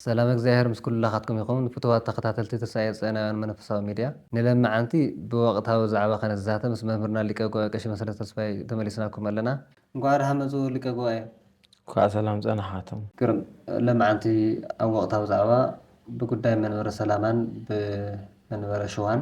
ሰላም እግዚኣብሔር ምስ ኩላኻትኩም ይኹን ፍቱዋት ተኸታተልቲ ተስኣኤ ጽዮናውያን መንፈሳዊ ሚድያ ንለምዓንቲ ብወቕታዊ ዛዕባ ከነዛተ ምስ መምህርና ሊቀ ጉባኤ ቀሺ መሰለ ተስፋይ ተመሊስናኩም ኣለና። እንኳዕ ደሓን መፁ ሊቀ ጉባኤ። እንኳዕ ሰላም ፀናሓትም። ግርም ለማዓንቲ ኣብ ወቕታዊ ዛዕባ ብጉዳይ መንበረ ሰላማን ብመንበረ ሽዋን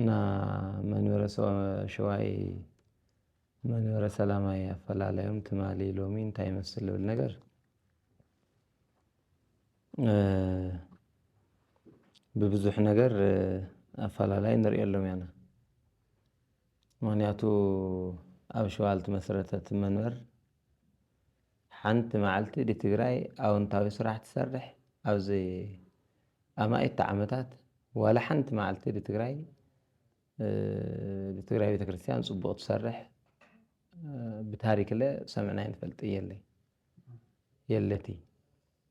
እና መንበረ ሸዋይ መንበረ ሰላማይ ኣፈላላዮም ትማሊ ሎሚ እንታይ ይመስል ዝብል ነገር ብብዙሕ ነገር ኣፈላላይ ንሪኤሎም ኢና። ምክንያቱ ኣብ ሸዋ ዝተመስረተት መንበር ሓንቲ ማዓልቲ ድ ትግራይ ኣወንታዊ ስራሕ ትሰርሕ ኣብዚ ኣማኢት ዓመታት ዋላ ሓንቲ ማዓልቲ ድ ትግራይ ድ ትግራይ ቤተክርስትያን ፅቡቅ ትሰርሕ ብታሪክለ ሰምዕናይ ንፈልጥ የለይ የለትይ።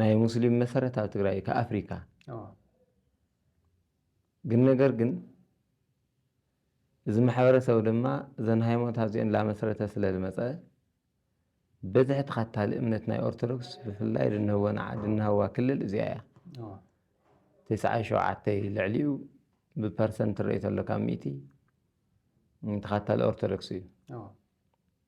ናይ ሙስሊም መሰረት ኣብ ትግራይ እዩ፣ ካብ ኣፍሪካ ግን ነገር ግን እዚ ማሕበረሰብ ድማ እዘን ሃይማኖታት እዚኦን ላመስረተ ስለልመፀ በዝሒ ተኸታሊ እምነት ናይ ኦርቶዶክስ ብፍላይ ድናህዋ ክልል እዚኣ እያ ትስዓን ሸውዓተይ ልዕሊኡ ብፐርሰንት ትርኢ ተሎ ካብ ሚእቲ ተኸታሊ ኦርቶዶክስ እዩ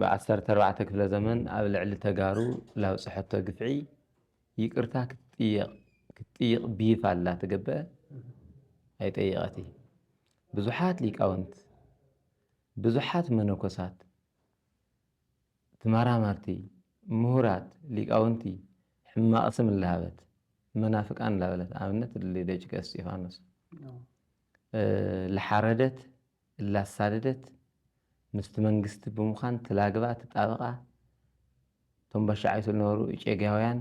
ብ ዓሰርተ ኣርባዕተ ክፍለ ዘመን ኣብ ልዕሊ ተጋሩ ላብፀሐቶ ግፍዒ ይቅርታ ክትጥየቅ ክትጥይቅ ቢይፍ ኣላ ትገበ ኣይጠየቀቲ ብዙሓት ሊቃውንት ብዙሓት መነኮሳት ትማራማርቲ ምሁራት ሊቃውንቲ ሕማቅ ስም እላሃበት መናፍቃን ላበለት ኣብነት ደቂ እስጢፋኖስ ልሓረደት እላሳደደት ምስቲ መንግስቲ ብምዃን ትላግባ ትጣበቃ እቶም ባሻዓይቱ ልነበሩ እጨጌያውያን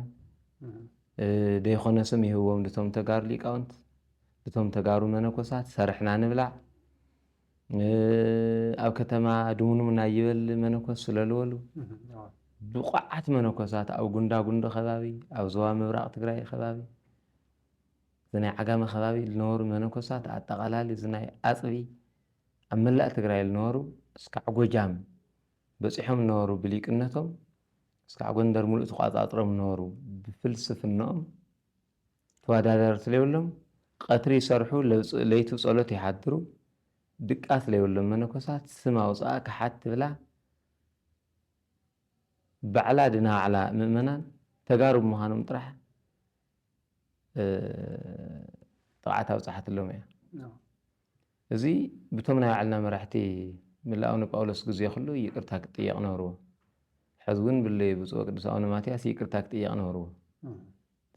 ደይኾነ ስም ይህብዎም ድቶም ተጋሩ ሊቃውንት ድቶም ተጋሩ መነኮሳት ሰርሕና ንብላዕ ኣብ ከተማ ድሙኑም ናይበል መነኮስ ስለልወሉ ብቑዓት መነኮሳት ኣብ ጉንዳጉንዲ ከባቢ ኣብ ዞባ ምብራቕ ትግራይ ከባቢ እዚ ናይ ዓጋመ ከባቢ ልነበሩ መነኮሳት ኣጠቓላሊ እዚ ናይ ኣፅቢ ኣብ መላእ ትግራይ ልነበሩ እስካዕ ጎጃም በፂሖም ልነበሩ ብሊቅነቶም እስካዕ ጎንደር ሙሉእ ተቋፃፅሮም ልነበሩ ብፍልስፍንኦም ተወዳዳርቲ ለይብሎም ቐትሪ ይሰርሑ ለይቲ ፀሎት ይሓድሩ ድቃስ ለይብሎም መነኮሳት ስም ኣውፅኣ ከሓት ትብላ ባዕላ ድና ባዕላ ምእመናን ተጋሩ ብምዃኖም ጥራሕ ጥቕዓት ኣብጽሓትሎም እያ። እዚ ብቶም ናይ ባዕልና መራሕቲ ምላኡ ንጳውሎስ ግዜ ኩሉ ይቅርታ ክጥየቕ ነበርዎ። ሕዚ እውን ብለይ ብፁዕ ወቅዱስ ኣቡነ ማትያስ ይቅርታ ክጥየቕ ነበርዎ።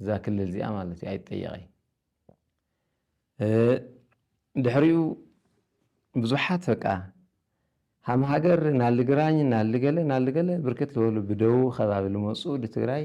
እዛ ክልል እዚኣ ማለት እዩ ኣይጠየቐይ ድሕሪኡ ብዙሓት በቃ ሃም ሃገር ናልግራኝ ናልገለ ናልገለ ብርክት ዝበሉ ብደቡብ ከባቢ ልመፁ ድትግራይ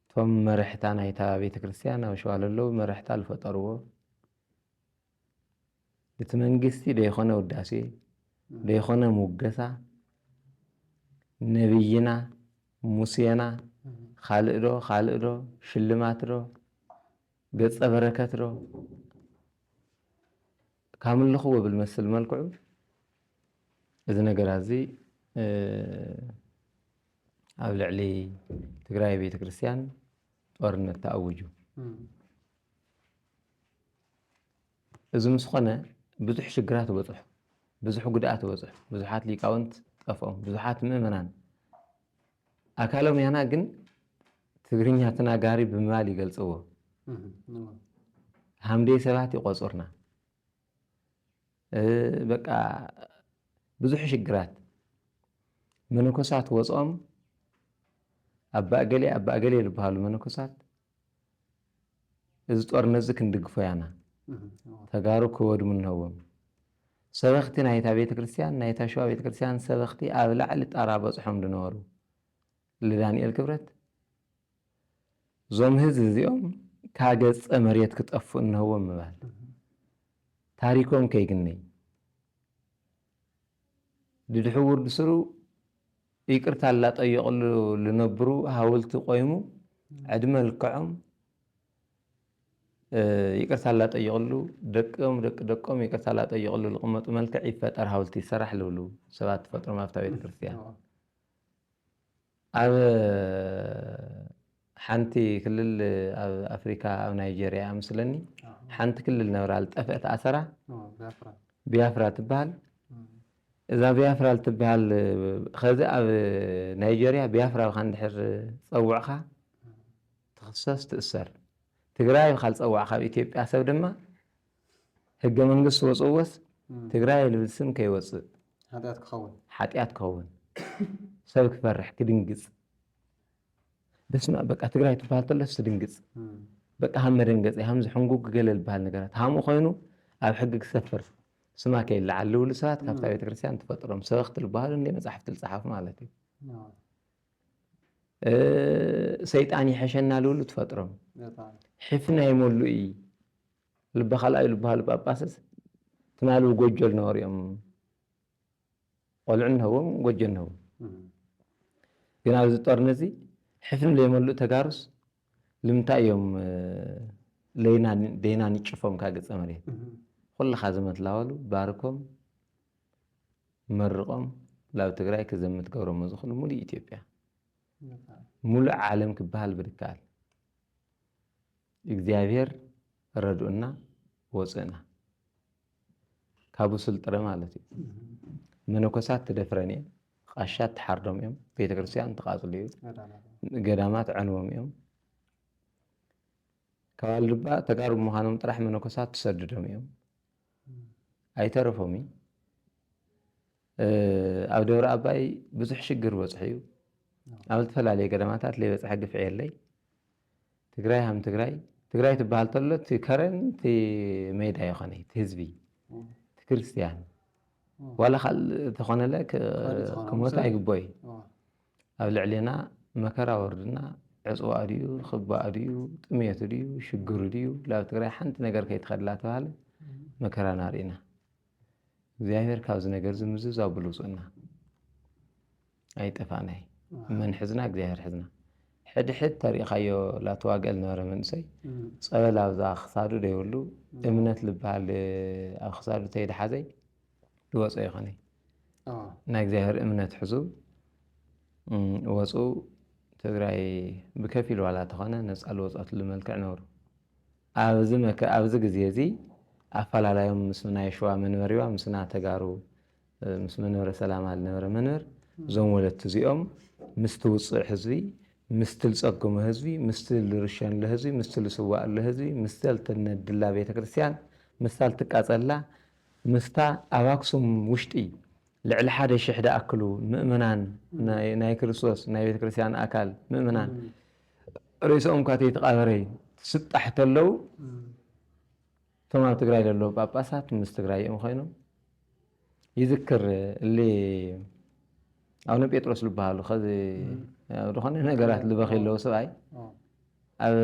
እቶም መርሕታ ናይታ ቤተክርስትያን ኣብ ሸዋ ለለዉ መርሕታ ልፈጠርዎ እቲ መንግስቲ ደይኮነ ውዳሴ ደይኮነ ሙገሳ ነብይና ሙሴና ካልእ ዶ ካልእ ዶ ሽልማት ዶ ገጸ በረከት ዶ ካምልኹ ብብልመስል መልክዑ እዚ ነገራዚ ኣብ ልዕሊ ትግራይ ቤተክርስትያን ጦርነት ተኣውጁ እዚ ምስ ኾነ ብዙሕ ሽግራት በፅሑ፣ ብዙሕ ጉድኣት በፅሑ፣ ብዙሓት ሊቃውንት ጠፍኦም፣ ብዙሓት ምእመናን ኣካሎም ያና ግን ትግርኛ ተናጋሪ ብምባል ይገልጽዎ። ሃምደይ ሰባት ይቆጹርና በቃ ብዙሕ ሽግራት መነኮሳት ወጾም ኣባ እገሌ ኣባ እገሌ ዝበሃሉ መነኮሳት እዚ ጦርነት እዚ ክንድግፎ ያና ተጋሩ ክወድሙ ኣለዎም ሰበኽቲ ናይታ ቤተ ክርስቲያን ናይታ ሸዋ ቤተ ክርስቲያን ሰበኽቲ ኣብ ላዕሊ ጣራ በፅሖም ዝነበሩ ልዳኒኤል ክብረት ዞም ህዝቢ እዚኦም ካብ ገፀ መሬት ክጠፍኡ እንሀዎም ምባል ታሪኮም ከይግነይ ድድሑ ውርድ ስሩ ይቅርታ ላጠየቅሉ ልነብሩ ሃውልቲ ቆይሙ ዕድመ ልክዖም ይቅርታ ላጠየቅሉ ደቅም ደቂ ደቆም ይቅርታ ላጠየቅሉ ልቅመጡ መልክዕ ይፈጠር ሃውልቲ ይሰራሕ ልብሉ ሰባት ትፈጥሮም ኣብታ ቤተክርስትያን ኣብ ሓንቲ ክልል ኣብ ኣፍሪካ ኣብ ናይጀርያ እያ ምስለኒ ሓንቲ ክልል ነብራ ዝጠፍአት ኣሰራ ቢያፍራ ትበሃል እዛ ቢያፍራ ልትበሃል ከዚ ኣብ ናይጀርያ ቢያፍራ ብካ እንድሕር ፀውዕካ ትኽሰስ ትእሰር ትግራይ ብካ ዝፀዋዕካ ኣብ ኢትዮጵያ ሰብ ድማ ህገ መንግስት ወጽዎስ ትግራይ ልብል ስም ከይወጽእ ሓጢኣት ክኸውን ሓጢኣት ክኸውን ሰብ ክፈርሕ ክድንግጽ በስመኣብ በቃ ትግራይ ትባሃል ተሎስ ትድንግጽ በቃ ሃም መደንገጺ ሃም ዝሕንጉግ ገለ ልባሃል ነገራት ሃምኡ ኮይኑ ኣብ ሕጊ ክሰፍር ስማ ከይለዓል ልብሉ ሰባት ካብታ ቤተክርስትያን ትፈጥሮም ሰበኽቲ ልባሃሉ እንደ መጻሕፍቲ ልጸሓፉ ማለት እዩ ሰይጣን ይሐሸና ልብሉ ትፈጥሮም ሕፍና ይመሉ እዪ ልባ ካልኣዩ ልባሃሉ ጳጳስስ ትማሉ ጎጆ ልነበሩ እዮም ቆልዑ ንህቦም ጎጆ ንህቦም ግን ኣብዚ ጦርነት እዚ ሕፍኒ ለይመልኡ ተጋሩስ ልምንታይ እዮም ደይና ንጭፎም ካብ ገፀ መሬት ኩልኻ ዘመትላወሉ ባርኮም መርቆም ላብ ትግራይ ክዘምት ገብሮሞ ዝኽሉ ሙሉእ ኢትዮጵያ ሙሉእ ዓለም ክበሃል ብድካል እግዚኣብሔር ረድኡና ወፅእና ካብኡ ስልጥረ ማለት እዩ መነኮሳት ትደፍረን እየን ቃሻት ትሓርዶም እዮም ቤተክርስትያን ትቃፅሉ እዩ ገዳማት ዕንዎም እዮም ከባል ድማ ተጋሩ ምዃኖም ጥራሕ መነኮሳት ትሰድዶም እዮም ኣይተረፎም እዩ ኣብ ደብረ ኣባይ ብዙሕ ሽግር በፅሑ እዩ ኣብ ዝተፈላለየ ገዳማታት ለይበፅሐ ግፍዒ የለይ ትግራይ ሃም ትግራይ ትግራይ ትበሃል ተሎ እቲ ከረን እቲ ሜዳ ይኾነ እቲ ህዝቢ እቲ ክርስትያን ዋላ ካልእ ተኾነለ ክሞት ኣይግቦ እዩ ኣብ ልዕሌና መከራ ወርድና ዕፅዋ ድዩ ክባ ድዩ ጥሜት ድዩ ሽግር ድዩ ላብ ትግራይ ሓንቲ ነገር ከይትኸድላ ተባሃለ መከራና ርኢና እግዚኣብሔር ካብዚ ነገር እዚ ምዝዛው ብሉፁና ኣይጠፋእናይ መን ሕዝና እግዚኣብሔር ሕዝና ሕድሕድ ተሪእኻዮ ላተዋግእል ነበረ መንእሰይ ፀበል ኣብዛ ክሳዱ ደይብሉ እምነት ዝበሃል ኣብ ክሳዱ ተይድሓዘይ ድወፆ ይኾነ ናይ እግዚኣብሔር እምነት ሕዙ ወፁ ትግራይ ብከፊል ዋላ ተኾነ ነፃ ልወፆትሉ መልክዕ ነብሩ ኣብዚ መከ ኣብዚ ግዜ እዚ ኣፋላላዮም ምስ ናይ ሽዋ መንበሪዋ ምስ ና ተጋሩ ምስ መንበረ ሰላማ ልነበረ መንበር እዞም ወለቲ እዚኦም ምስቲ ውጹዕ ህዝቢ ምስቲ ልጸግሞ ህዝቢ ምስቲ ልርሸንሎ ህዝቢ ምስቲ ልስዋእሎ ህዝቢ ምስታ ልትነድላ ቤተ ክርስቲያን ምስታ ልትቃጸላ ምስታ ኣብ ኣክሱም ውሽጢ ልዕሊ ሓደ ሽሕ ድኣክሉ ምእመናን ናይ ክርስቶስ ናይ ቤተ ክርስቲያን ኣካል ምእመናን ሬስኦምካ ተይተቃበረ ትስጣሕ ተለው እቶም ኣብ ትግራይ ዘለዉ ጳጳሳት ምስ ትግራይ እዮም ኮይኖም ይዝክር እሊ ኣቡነ ጴጥሮስ ዝበሃሉ ከዚ ኣብ ዝኾነ ነገራት ልበኺ ኣለዎ ሰብኣይ ኣብ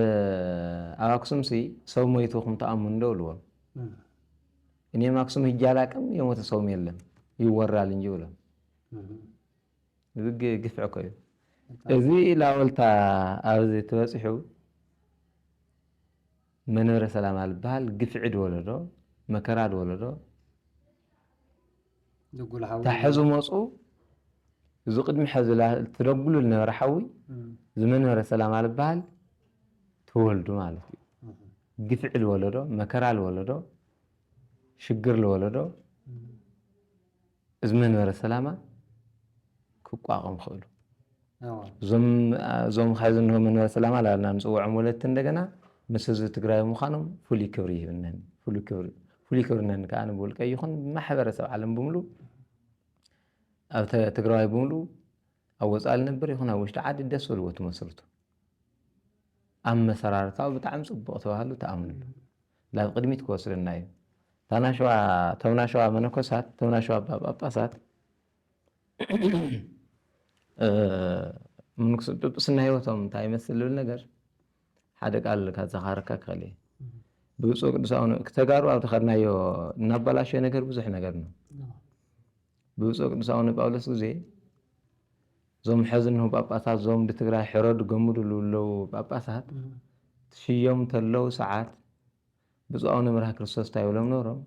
ኣብ ኣክሱም ሲ ሰው ሞይቱ ክም ተኣምኑ ዶ ብልዎም እኔም ኣክሱም ሂጄ አላቅም የሞተ ሰውም የለም ይወራል እንጂ ብሎም ብግ ግፍዒ እኮ እዩ እዚ ላወልታ ኣብዚ ትበፂሑ መንበረ ሰላም ኣልበሃል ግፍዒ ድወለዶ መከራ ድወለዶ ታሐዙ መፁ እዚ ቅድሚ ሐዚ ትደጉሉ ዝነበረ ሓዊ እዚ መንበረ ሰላም ኣልበሃል ተወልዱ ማለት እዩ ግፍዒ ዝወለዶ መከራ ዝወለዶ ሽግር ዝወለዶ እዚ መንበረ ሰላማ ክቋቐም ክእሉ እዞም ኸዚ እንሆ መንበረ ሰላማ ላልና ንፅውዖም ወለድቲ እንደገና ምስ ህዝቢ ትግራይ ምዃኖም ፍሉይ ክብሪ ይህብነኒ ፍሉይ ክብሪ ፍሉይ ክብሪ ነን ከዓ ንብውልቀ ይኹን ማሕበረሰብ ዓለም ብምሉ ኣብ ትግራዋይ ብምሉ ኣብ ወፃኢ ልነብር ይኹን ኣብ ውሽጢ ዓዲ ደስ በልዎ ትመስርቱ ኣመሰራርታዊ ብጣዕሚ ፅቡቕ ተባህሉ ተኣምንሉ ናብ ቅድሚት ክወስደና እዩ። እታ ናሸዋ እቶም ናሸዋ መነኮሳት እቶም ናሸዋ ኣባ ጳጳሳት ጵጵስና ህይወቶም እንታይ ይመስል ዝብል ነገር ሓደ ቃል ካዘኻረካ ክኸእል እየ ብፁዕ ቅዱስ ኣቡነ ተጋሩ ኣብ ዝኸድናዮ እናበላሸ ነገር ብዙሕ ነገር ነው ብብፁዕ ቅዱስ ኣቡነ ጳውሎስ ግዜ እዞም ሐዚ እንሆ ጳጳሳት እዞም ብትግራይ ሕረዱ ገምዱ ልብለዉ ጳጳሳት ትሽዮም ተለዉ ሰዓት ብፁዕ ኣቡነ መርሃ ክርስቶስ እንታይ ብሎም ኖሮም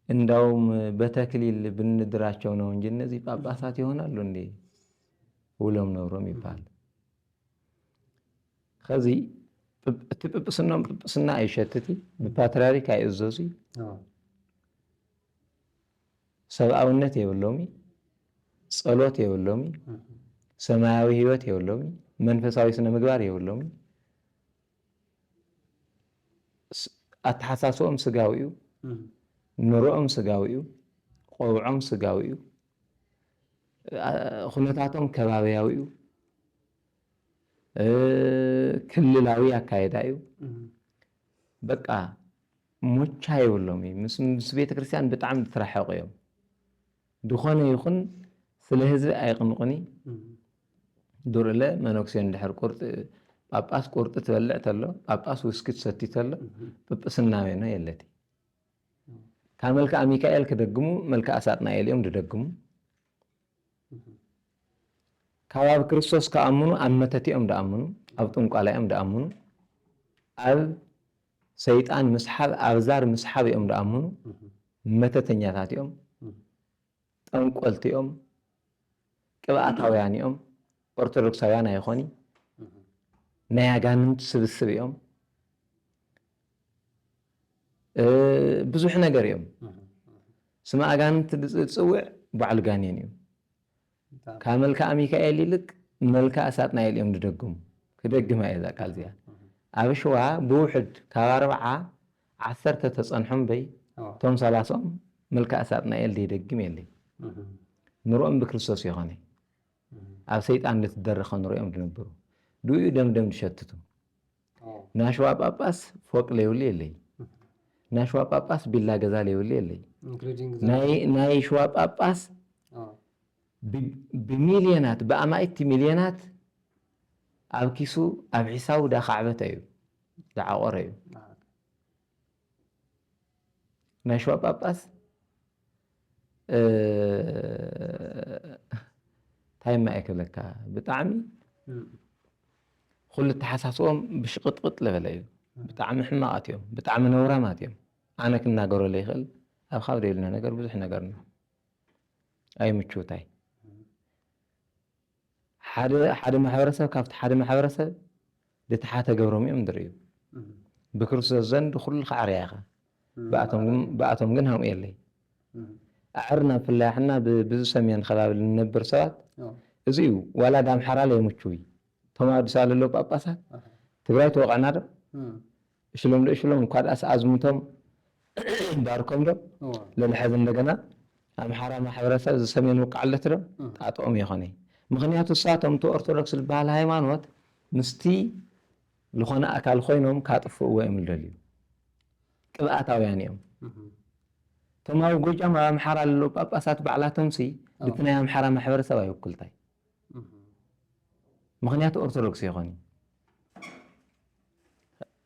እንዳውም በተክሊል ብንድራቸው ነው እንጂ እነዚህ ጳጳሳት ይሆናሉ እንዴ ውሎም ነብሮም ይባል ከዚ እቲ ጵጵስናም ጵጵስና ኣይሸትቲ ብፓትርያርክ ኣይእዘዙ ሰብኣውነት የብሎሚ ጸሎት የብሎሚ ሰማያዊ ህይወት የብሎሚ መንፈሳዊ ስነ ምግባር የብሎሚ ኣተሓሳስኦም ስጋዊ እዩ ኑሮኦም ስጋዊ እዩ ቆብዖም ስጋዊ እዩ ኩነታቶም ከባቢያዊ እዩ ክልላዊ ኣካየዳ እዩ በቃ ሞቻ የብሎም እዩ ምስ ምስ ቤተክርስትያን ብጣዕሚ ዝተራሐቁ እዮም ድኾነ ይኹን ስለ ህዝቢ ኣይቅንቁኒ ዱርለ መነኩሴ እንድሕር ቁርጢ ጳጳስ ቁርጢ ትበልዕ ተሎ ጳጳስ ውስኪ ትሰቲ ተሎ ጵጵስና ሜኖ የለቲ ካብ መልክኣ ሚካኤል ክደግሙ መልክኣ ሳጥናኤል እዮም ድደግሙ ካብ ኣብ ክርስቶስ ክኣምኑ ኣብ መተቲኦም ድኣምኑ ኣብ ጥንቋላ እዮም ድኣምኑ ኣብ ሰይጣን ምስሓብ ኣብዛር ምስሓብ እዮም ድኣምኑ መተተኛታት እዮም ጠንቆልቲ እዮም ቅብኣታውያን እዮም ኦርቶዶክሳውያን ኣይኾኒ ናይ ኣጋንንት ስብስብ እዮም ብዙሕ ነገር እዮም ስመ ኣጋንንት ዝፅውዕ ባዕሉ ጋኔን እዩ ካብ መልክኣ ሚካኤል ይልቅ መልክኣ ሳጥናኤል እዮም ዝደግሙ። ክደግማ እየ እዛ ቃል እዚኣ። ኣብ ሽዋ ብውሕድ ካብ ኣርብዓ ዓሰርተ ተጸንሑ እምበይ እቶም ሰላሳኦም መልክኣ ሳጥናኤል ዘይደግም የለይ። ንርኦም ብክርስቶስ የኾነይ ኣብ ሰይጣን ልትደረኸ ንርኦም ዝነብሩ። ድኡ እዩ ደም ደም ዝሸትቱ። ናሽዋ ጳጳስ ፎቅ ለይብሉ የለይ ናሽዋ ጳጳስ ቢላ ገዛ ለይብሉ የለይ ናይ ሽዋ ጳጳስ ብሚልዮናት ብኣማኢቲ ሚልዮናት ኣብ ኪሱ ኣብ ሒሳቡ ዳካዕበተ እዩ ዝዓቆረ እዩ ናይ ሸዋ ጳጳስ እንታይ እማ እየ ክብለካ ብጣዕሚ ኩሉ ተሓሳስቦም ብሽቕጥቕጥ ዝበለ እዩ ብጣዕሚ ሕማቓት እዮም ብጣዕሚ ነውራማት እዮም ኣነ ክናገሮ ዘይኽእል ኣብ ካብ ዘይብልና ነገር ብዙሕ ነገር ነው ኣይምችውታይ ሓደ ሓደ ማሕበረሰብ ካብቲ ሓደ ማሕበረሰብ ድተሓተ ገብሮም እዮም ድርእዩ። ብክርስቶስ ዘንድ ኩሉ ከዕርያ ኢኻ ብኣቶም ግን ሃምኡ የለይ። ኣዕርና ብፍላይ ኣሕና ብብዙ ሰሜን ከባቢ ልንነብር ሰባት እዚ እዩ ዋላ ዳምሓራ ለይምቹይ እቶም ኣብ ኣዲስ ኣበባ ለለዉ ጳጳሳት ትግራይ ትወቕዕና ዶ እሽሎም ዶ እሽሎም ካልኣስ ኣዝሙቶም ባርኮም ዶ ሎሚ ሐዚ እንደገና ኣምሓራ ማሕበረሰብ እዚ ሰሜን ውቃዕለት ዶ ጣጦኦም የኾነይ ምኽንያቱ እሳቶም እቲ ኦርቶዶክስ ልባሃል ሃይማኖት ምስቲ ልኾነ ኣካል ኾይኖም ካጥፍእዎ እዮም ልደልዩ ቅብኣታውያን እዮም እቶም ኣብ ጎጃም ኣብ ኣምሓራ ለለዉ ጳጳሳት ባዕላቶምሲ እቲ ናይ ኣምሓራ ማሕበረሰብ ኣይውክልታይ ምኽንያቱ ኦርቶዶክስ የኾኒ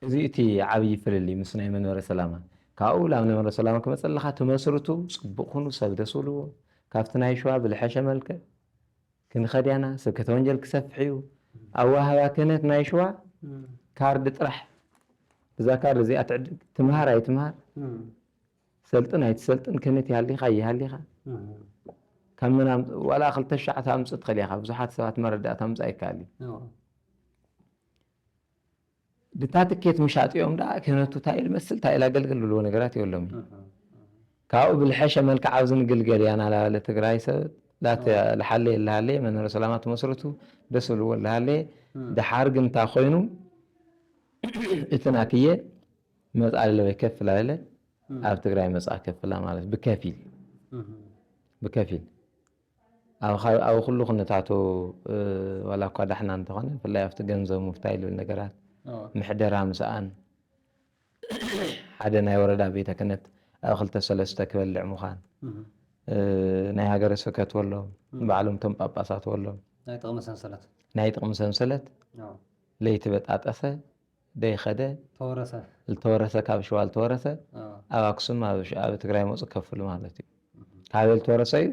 እዚ እቲ ዓብዪ ፍልልይ ምስ ናይ መንበረ ሰላማ ካብኡ ናብ መንበረ ሰላማ ክመፅእ ኣለካ ትመስርቱ ፅቡቅ ኩኑ ሰብ ደስ ብልዎ ካብቲ ናይ ሸዋ ብልሐሸ መልክዕ ክንኸድያና ስብከተ ወንጀል ክሰፍሕ እዩ ኣዋህባ ክህነት ናይ ሸዋ ካርድ ጥራሕ ብዛ ካርድ እዚኣ ትዕድግ ትምሃር ኣይትምሃር ሰልጥን ኣይትሰልጥን ከመት ይሃሊኻ ይሃሊኻ ካብ መን ኣምፅ ዋላ ክልተ ሽዓ ተምፅእ ትኽእል ኢኻ ብዙሓት ሰባት መረዳእታ ምፃእ ይከኣል እዩ ድታ ትኬት ምሻጥ እዮም ዳ ክህነቱ እንታይ ልመስል እንታይ ላገልግል ብልዎ ነገራት የብሎም ካብኡ ብልሐሸ መልክዕ ኣብዚ ንግልገል እያ ናላለ ትግራይ ሰብ ላት ልሓለ የልሃለ መንበረ ሰላማት መስረቱ ደስ ብልዎ ልሃለ ድሓር ግን እንታይ ኮይኑ እቲ ናትየ መጽ ኣለ ወይ ከፍል ኣለ ኣብ ትግራይ መጽ ከፍላ ማለት ብከፊል ብከፊል ኣብ ኩሉ ኩነታቱ ዋላ እኳ ዳሕና እንተኾነ ብፍላይ ኣብቲ ገንዘብ ምፍታይ ዝብል ነገራት ምሕደራ ምስኣን ሓደ ናይ ወረዳ ቤተ ክህነት ኣብ ክልተ ሰለስተ ክበልዕ ምዃን ናይ ሃገረ ስብከት ወሎ ባዕሎም እቶም ጳጳሳት ወሎ ናይ ጥቕሚ ሰንሰለት ለይቲ በጣጠሰ ደይኸደ ተወረሰ ልተወረሰ ካብ ሽዋ ልተወረሰ ኣብ ኣክሱም ኣብ ትግራይ መጹ ከፍሉ ማለት እዩ ካበይ ልተወረሰ እዩ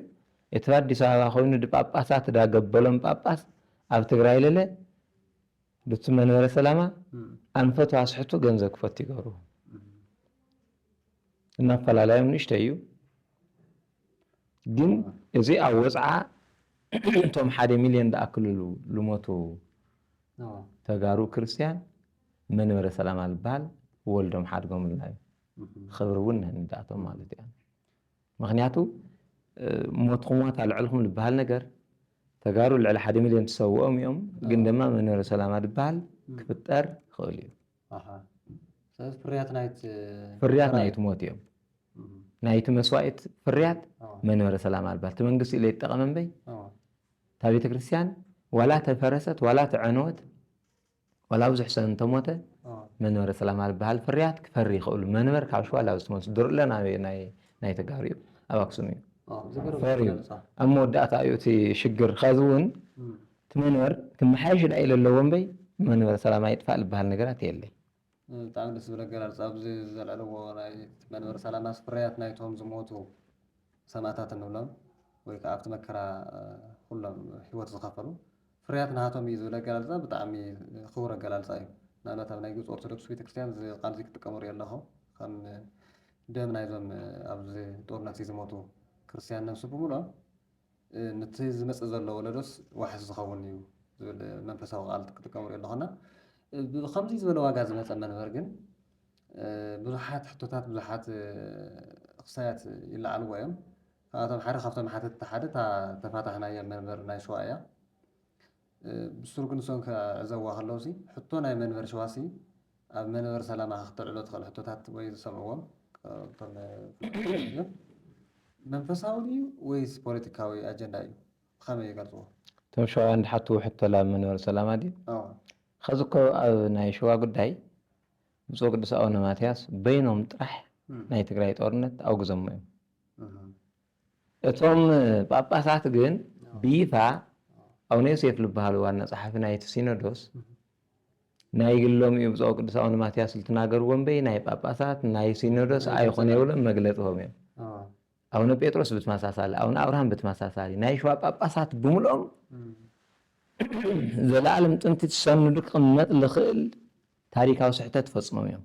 እቲ ኣዲስ ኣበባ ኮይኑ ድጳጳሳት ዳገበሎም ጳጳስ ኣብ ትግራይ ለለ ዱቲ መንበረ ሰላማ ኣንፈቱ ኣስሕቱ ገንዘብ ክፈቱ ይገብሩ እና ኣፈላላዮም ንእሽተ እዩ ግን እዚ ኣብ ወፅዓ እቶም ሓደ ሚልዮን ድኣክልሉ ልሞቱ ተጋሩ ክርስትያን መንበረ ሰላም ኣልባል ወልዶም ሓድጎምልና እዩ ክብሪ እውን ንህንዳቶም ማለት እያ ምክንያቱ ሞትኩም ዋት ኣልዕልኩም ዝበሃል ነገር ተጋሩ ልዕሊ ሓደ ሚልዮን ትሰውኦም እዮም ግን ድማ መንበረ ሰላማ ዝበሃል ክፍጠር ይኽእል እዩ ፍርያት ናይቲ ሞት እዮም ናይቲ መስዋእት ፍርያት መንበረ ሰላማ ኣልባል እቲ መንግስቲ ኢለ ይጠቐመ እምበይ እታ ቤተ ክርስቲያን ዋላ ተፈረሰት ዋላ ተዐነወት ዋላ ብዙሕ ሰብ እንተሞተ መንበረ ሰላማ ዝበሃል ፍርያት ክፈሪ ይኽእሉ መንበር ካብ ሸዋ ላብ ዝተመልሱ ድርለ ናይ ተጋሩ እዩ ኣብ ኣክሱም እዩ ፈርዩ ኣብ መወዳእታ እዩ እቲ ሽግር ከዚ እውን እቲ መንበር ክመሓየሽ ዳኣ ኢለ ኣለዎ እምበይ መንበር ሰላም ኣይጥፋእ ዝበሃል ነገራት የለይ ብጣዕሚ ደስ ዝብል ኣገላልፃ ኣብዚ ዘልዐልዎ ናይ መንበረ ሰላማ ፍርያት ናይቶም ዝሞቱ ሰማእታት እንብሎም ወይ ከዓ ኣብቲ መከራ ኩሎም ህይወት ዝኸፈሉ ፍርያት ናሃቶም እዩ ዝብል ኣገላልፃ ብጣዕሚ ክቡር ኣገላልፃ እዩ። ንኣብነት ኣብ ናይ ግብፂ ኦርቶዶክስ ቤተክርስትያን እዚ ቃል እዚ ክጥቀሙ ሪኦ ኣለኹ ከም ደም ናይዞም ኣብዚ ጦርነት እዚ ዝሞቱ ክርስትያን ነብሲ ብምሉኦም ንቲ ዝመጽእ ዘሎ ወለዶስ ዋሕስ ዝኸውን እዩ ዝብል መንፈሳዊ ቃል ክጥቀም ንሪኦ ኣሎ እና ብከምዚ ዝበለ ዋጋ ዝመጸ መንበር ግን ብዙሓት ሕቶታት ብዙሓት ክሳያት ይለዓልዎ እዮም ካብኣቶም ሓደ ካብቶም ሓተትቲ ሓደ እታ ተፋታሕናያ መንበር ናይ ሸዋ እያ ብሱሩ ግን ንሶም ክዕዘብዋ ከለዉሲ ሕቶ ናይ መንበር ሸዋሲ ኣብ መንበር ሰላማካ ክተልዕሎ ትክእል ሕቶታት ወይ ዝሰምዕዎም ካብቶም ፍሉጣት መንፈሳዊ ድዩ ወይስ ፖለቲካዊ ኣጀንዳ እዩ ብከመይ ይገልጽዎ? እቶም ሸዋውያን ዝሓትዎ ሕቶ ላብ መንበር ሰላማ ድዩ? ኣወ። ኸዚ እኮ ኣብ ናይ ሽዋ ጉዳይ ብፁዕ ወቅዱስ ኣቡነ ማትያስ በይኖም ጥራሕ ናይ ትግራይ ጦርነት ኣውግዞሞ እዮም። እቶም ጳጳሳት ግን ብይፋ ኣቡነ ዮሴፍ ዝበሃሉ ዋና ጸሓፊ ናይቲ ሲኖዶስ ናይ ግሎም እዩ ብፁዕ ቅዱስ ኣቡነ ማትያስ ልትናገርዎ እምበይ ናይ ጳጳሳት ናይ ሲኖዶስ ኣይኾነ የብሎም መግለጺ ሆም እዮም ኣቡነ ጴጥሮስ ብተመሳሳሊ ኣቡነ ኣብርሃም ብተመሳሳሊ ናይ ሸዋ ጳጳሳት ብምልኦም ዘለኣለም ጥንቲ ትሰንዱ ክቕመጥ ዝኽእል ታሪካዊ ስሕተት ፈጽሞም እዮም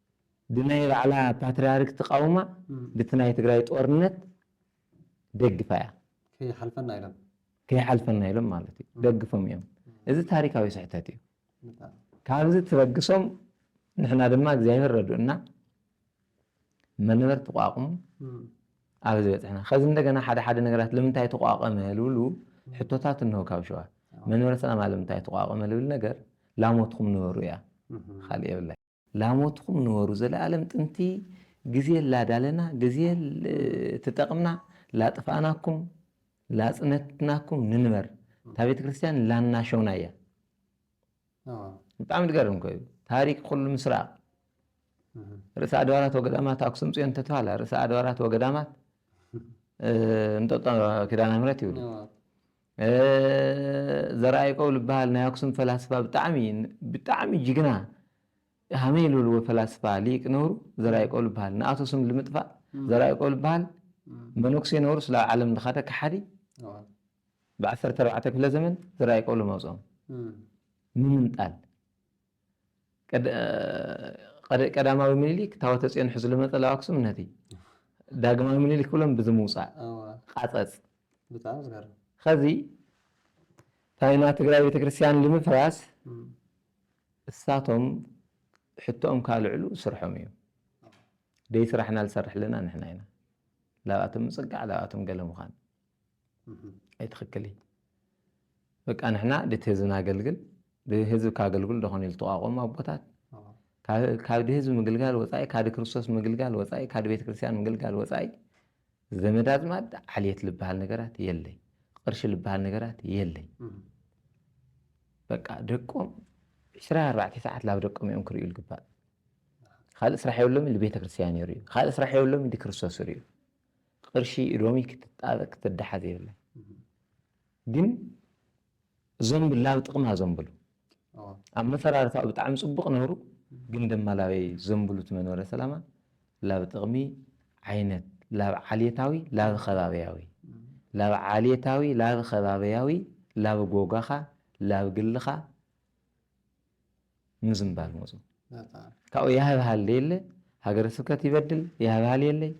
ብናይ ባዕላ ፓትርያርክ ትቃውማ ብቲ ናይ ትግራይ ጦርነት ደግፋ እያ። ከይሓልፈና ኢሎም። ከይሓልፈና ኢሎም ማለት እዩ ደግፎም እዮም። እዚ ታሪካዊ ስሕተት እዩ። ካብዚ ትበግሶም ንሕና ድማ እግዚኣብሔር ረድኡና መነበርት ተቋቁሙ ኣብ ዝበፅሕና ከዚ እንደገና ሓደ ሓደ ነገራት ለምንታይ ተቋቀመ ልብሉ ሕቶታት እንሆ ካብ ሸዋ መንበረ ሰላማ ለምንታይ ተቋቀመ ልብል ነገር ላሞትኩም ንበሩ እያ ካልእ የብላይ ላሞትኩም ንበሩ ዘለኣለም ጥንቲ ግዜ ላዳለና ግዜ ትጠቅምና ላጥፋእናኩም ላጽነትናኩም ንንበር እታ ቤተክርስትያን ላናሸውና እያ ብጣዕሚ ዝገርም እኮ እዩ ታሪክ ኩሉ ምስራቅ ርእሰ ኣድባራት ወገዳማት ኣክሱም ፅዮን ተተባሃላ ርእሰ ኣድባራት ወገዳማት እንጠጦ ኪዳነ ምሕረት ይብሉ ዘርኣይቀው ልበሃል ናይ ኣክሱም ፈላስፋ ብጣዕሚ ብጣዕሚ ጅግና ሃመይ ልብልዎ ፈላስፋ ሊቅ ነብሩ ዘርኣይቀው ልበሃል ንኣቶ ስም ልምጥፋእ ዘርኣይቀው ልበሃል መነኩሴ ነብሩ ስላብ ዓለም ልኻደ ከሓዲ ብዓሰርተ ኣርባዕተ ክፍለ ዘመን ዘርኣይቀው ልመውፅኦም ምምንጣል ቀዳማዊ ምኒሊክ ታወተጽዮን ሕዙ ልመጸላዊ ኣክሱም ነቲ ዳግማዊ ምኒሊክ ክብሎም ብዚ ምውጻእ ቃጸጽ ኸዚ ታይና ትግራይ ቤተክርስትያን ልምፍራስ እሳቶም ሕቶኦም ካልዕሉ ስርሖም እዩ ደይ ስራሕና ልሰርሕ ኣለና ንሕና ኢና ላብኣቶም ምጽጋዕ ላብኣቶም ገለ ምዃን ኣይትክክል እዩ በቃ ንሕና ድቲ ህዝብና ኣገልግል ብህዝብ ካገልግሉ ደኾን ኢሉ ተቋቆሙ ኣቦታት ካብ ድህዝብ ምግልጋል ወፃኢ ካድ ክርስቶስ ምግልጋል ወፃኢ ካድ ቤተ ክርስቲያን ምግልጋል ወፃኢ ዘመድ ኣዝማድ ዓልየት ልበሃል ነገራት የለይ ቅርሺ ልበሃል ነገራት የለይ በቃ ደቆም ዕስራ ኣርባዕተ ሰዓት ላብ ደቆም እዮም ክርእዩ ልግባእ ካልእ ስራሕ የብሎም ኢሉ ቤተ ክርስቲያን ይርእዩ ካልእ ስራሕ የብሎም ኢሉ ክርስቶስ ይርእዩ ቅርሺ ሎሚ ክትጣበቅ ክትዳሓዝ የብላን ግን እዞም ብላብ ጥቅማ ዘምብሉ ኣመፈራርታኡ ብጣዕሚ ጽቡቅ ነሩ ግን ደማ ላበይ ዘምብሉ እቲ መንበረ ሰላማ ላብ ጥቅሚ ዓይነት ላብ ዓሌታዊ ላብ ከባብያዊ ላብ ዓሌታዊ ላብ ከባብያዊ ላብ ጎጋኻ ላብ ግልኻ ምዝንባል መፁ። ካብኡ ያህብሃል የለ ሃገረ ስብከት ይበድል ያህብሃል የለይ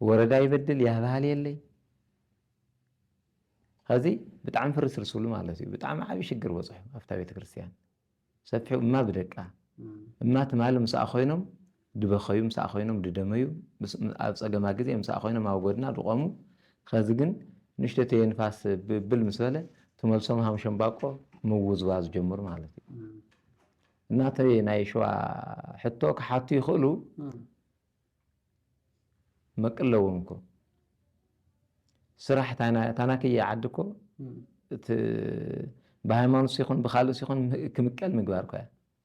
ወረዳ ይበድል ያህብሃል የለይ ከዚ ብጣዕሚ ፍርስርስ ብሉ ማለት እዩ ብጣዕሚ ዓብዪ ሽግር በፅሑ ኣብታ ቤተ ክርስቲያን ሰፊሑ እማ ብደቃ እማ ትማሊ ምስኣ ኮይኖም ድበኸዩ ምሳኣ ኮይኖም ድደመዩ ኣብ ጸገማ ግዜ ምሳኣ ኮይኖም ኣብ ጎድና ድቆሙ ኸዚ ግን ንእሽቶተየ ንፋስ ብል ምስ በለ ትመልሶም ሃም ሸምባቆ ምውዝዋዝ ጀምሩ ማለት እዩ እና እቲ ናይ ሸዋ ሕቶ ክሓቱ ይኽእሉ መቅለዎም እኮ ስራሕ ታናክየ ዓዲ እኮ እቲ ብሃይማኖት ሲኹን ብካልእ ሲኹን ክምቀል ምግባር እኮ እያ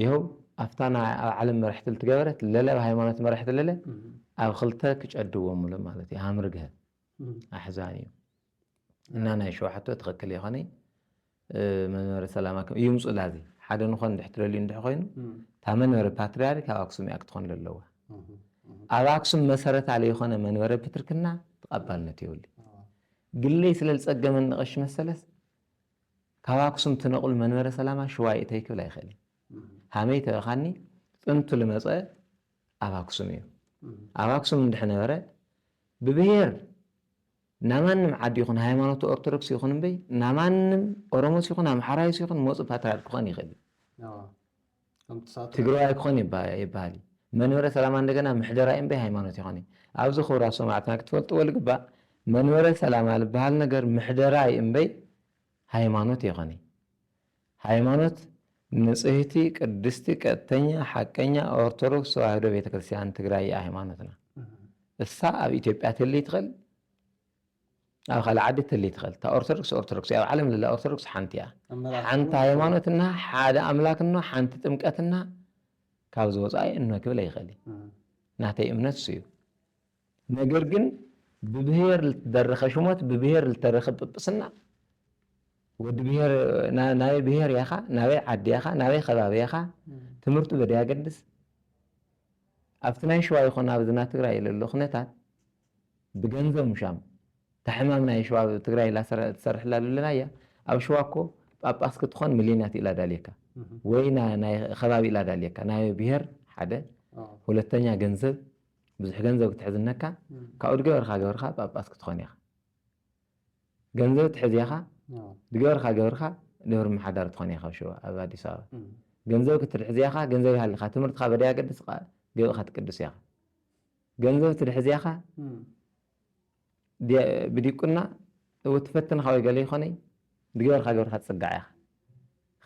ይሀው ኣብታ ናይ ኣብ ዓለም መርሕቲ ልትገበረት ለለ ኣብ ሃይማኖት መርሕቲ ለለ ኣብ ክልተ ክጨድዎ ምሉ ማለት እዩ ሃምርግሀ ኣሕዛን እዩ እና ናይ ሸውሓቶ ትክክል የኸነ መንበረ ሰላማ ከም እዩ ምፁ ላዚ ሓደ ንኾን ድሕ ትደልዩ እንድሕ ኮይኑ እታ መንበረ ፓትሪያርክ ኣብ ኣክሱም እያ ክትኾን ዘለዋ ኣብ ኣክሱም መሰረት ኣለ የኾነ መንበረ ፕትርክና ተቐባልነት የብሉ ግለይ ስለ ዝፀገመኒ ቀሺ መሰለስ ካብ ኣክሱም ትነቕሉ መንበረ ሰላማ ሽዋ እተይ ክብል ኣይክእልን ሃመይ ተበካኒ ጥንቱ ልመጸ ኣብ ኣክሱም እዩ ኣብ ኣክሱም እንድሕ ነበረ ብብሄር ናማንም ዓዲ ይኹን ሃይማኖት ኦርቶዶክስ ይኹን እምበይ ናማንም ኦሮሞስ ይኹን ኣምሓራይስ ይኹን መጹ ፓትርያርክ ክኾን ይክእል እዩ ትግረዋይ ክኾን ይበሃል እዩ መንበረ ሰላማ እንደገና ምሕደራ እዩ እምበይ ሃይማኖት ኣይኮነይ ኣብዚ ክቡራት ሰማዕትና ክትፈልጥዎ ልግባእ መንበረ ሰላማ ልበሃል ነገር ምሕደራ እዩ እምበይ ሃይማኖት ኣይኮነይ ሃይማኖት ንጽህቲ ቅድስቲ ቀጥተኛ ሓቀኛ ኦርቶዶክስ ተዋህዶ ቤተክርስትያን ትግራይ እያ ሃይማኖትና እሳ ኣብ ኢትዮጵያ ትህልይ ትኽእል ኣብ ካልእ ዓዲ ትህሊ ትኽእል እታ ኦርቶዶክስ ኦርቶዶክስ እያ ኣብ ዓለም ለላ ኦርቶዶክስ ሓንቲ እያ ሓንቲ ሃይማኖት እና ሓደ ኣምላክ እኖ ሓንቲ ጥምቀት እና ካብ ዝወፃኢ እኖ ክብል ኣይኽእል እዩ ናተይ እምነት እሱ እዩ ነገር ግን ብብሄር ልትደረኸ ሽሞት ብብሄር ልተረኸ ጵጵስና ወዲ ብሄር ናበይ ብሄር ያኻ ናበይ ዓዲ ያኻ ናበይ ከባቢ ያኻ ትምህርቱ በደ ያገድስ ኣብቲ ናይ ሸዋ ይኹን ኣብዚ ናይ ትግራይ ለሎ ኩነታት ብገንዘብ ምሻም እታ ሕማም ናይ ሽዋ ኣብ ትግራይ ኢላ ትሰርሕላ ልለናያ ኣብ ሽዋ እኮ ጳጳስ ክትኾን ምልዮናት ኢላ ዳልየካ ወይ ናይ ኸባቢ ኢላ ዳልየካ ናይ ብሄር ሓደ ሁለተኛ ገንዘብ ብዙሕ ገንዘብ ክትሕዝ እነካ ካብኡ ድገበርካ ገብርካ ጳጳስ ክትኾን ኢኻ ገንዘብ ትሕዝ ኢኻ ድገበርካ ገብርካ ደብሪ ምሓዳር ትኾን ኢኻ ኣብ ሽዋ ኣብ ኣዲስ ኣበባ ገንዘብ ክትሕዝ ኢኻ ገንዘብ ይሃልኻ ትምህርትካ በደይ ኣገድስካ ገበእካ ትቅድስ ኢኻ ገንዘብ ትድሕዝያኻ ብዲቁና እው ትፈትንኻ ወይ ገለ ይኾነይ ድገበርካ ገብርካ ትጽጋዕ ኢኻ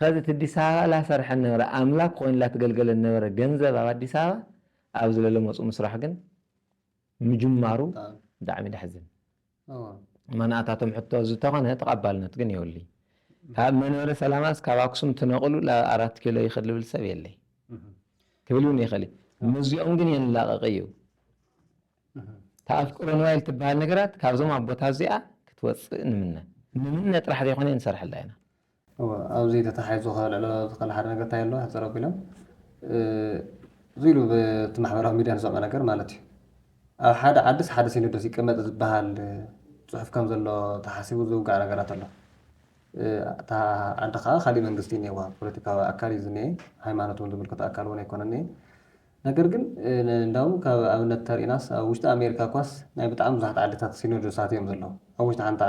ኸዚ እቲ ኣዲስ ኣበባ ላሰርሐን ነበረ ኣምላክ ኮይኑ ላትገልገለን ነበረ ገንዘብ ኣብ ኣዲስ ኣበባ ኣብዚ ለለ መጹ ምስራሕ ግን ምጅማሩ ብጣዕሚ ደሕዝን። ማናታቶም ሕቶ ዝተኾነ ተቐባልነት ግን የብሉይ። ካብ መንበረ ሰላማስ ካብ ኣክሱም ትነቕሉ ናብ ኣራት ኪሎ ይኸድ ልብል ሰብ የለይ ክብል ውን ይኸል እዩ። ምስዚኦም ግን የንላቐቕ እዩ። እታ ኣፍቅሮ ንዋይ ልትበሃል ነገራት ካብዞም ኣቦታት እዚኣ ክትወፅእ ንምነ። ንምነ ጥራሕ ዘይኮነ ንሰርሐላ ኢና። እወ ኣብዚ ተታሓሒዙ ከልዕሎ ዝክእል ሓደ ነገር እንታይ ኣሎ ሕጽር ኣቢሎም እዚ ኢሉ ብቲ ማሕበራዊ ሚድያ ንሰምዖ ነገር ማለት እዩ ኣብ ሓደ ዓድስ ሓደ ሲኖዶስ ይቀመጥ ዝበሃል ጽሑፍ ከም ዘሎ ተሓሲቡ ዝውጋዕ ነገራት ኣሎ እታ ዓዲ ከኣ ካሊእ መንግስቲ እዩ እኒኤዋ ፖለቲካዊ ኣካል እዩ ዝኒኤ ሃይማኖት ውን ዝምልከቶ ኣካል ውን ኣይኮነን እኒኤ ነገር ግን እንዳውም ካብ ኣብነት ተሪእናስ ኣብ ውሽጢ ኣሜሪካ እኳስ ናይ ብጣዕሚ ብዙሓት ዓድታት ሲኖዶሳት እዮም ዘለዉ ኣብ ውሽጢ ሓንቲ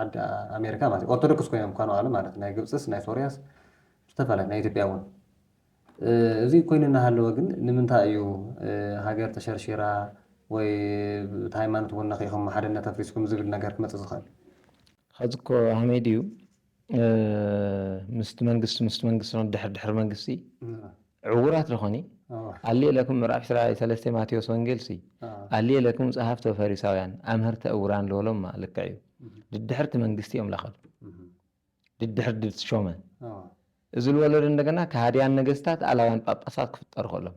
ዓዲ ኣሜሪካ ማለት እዩ ኦርቶዶክስ ኮይኖም እኳ ንባዕሎም ማለት እዩ ናይ ግብጽስ ናይ ሶርያስ ዝተፈላለየ ናይ ኢትዮጵያ እውን እዚ ኮይኑ እናሃለወ ግን ንምንታይ እዩ ሃገር ተሸርሺራ ወይ እቲ ሃይማኖት እውን ነኺእኹም ሓድነት ኣፍሪስኩም ዝብል ነገር ክመጽእ ዝኽእል? ሐዚ እኮ ሀመይ ድዩ ምስቲ መንግስቲ ምስቲ መንግስቲ ን ድሕሪ ድሕሪ መንግስቲ ዕውራት ደኾኒ ኣልየ ለክሙ ምዕራፍ ዕስራ ሰለስተ ማቴዎስ ወንጌል ሲ ኣልየ ለክሙ ጸሃፍቲ ወፈሪሳውያን ኣምህርተ እውራን ልበሎማ ልክዕ እዩ ድድሕርቲ መንግስቲ እዮም ለኸዱ ድድሕር ድትሾመ እዚ ልወለዶ እንደገና ከሃድያን ነገስታት ኣላውያን ጳጳሳት ክፍጠሩ ከሎም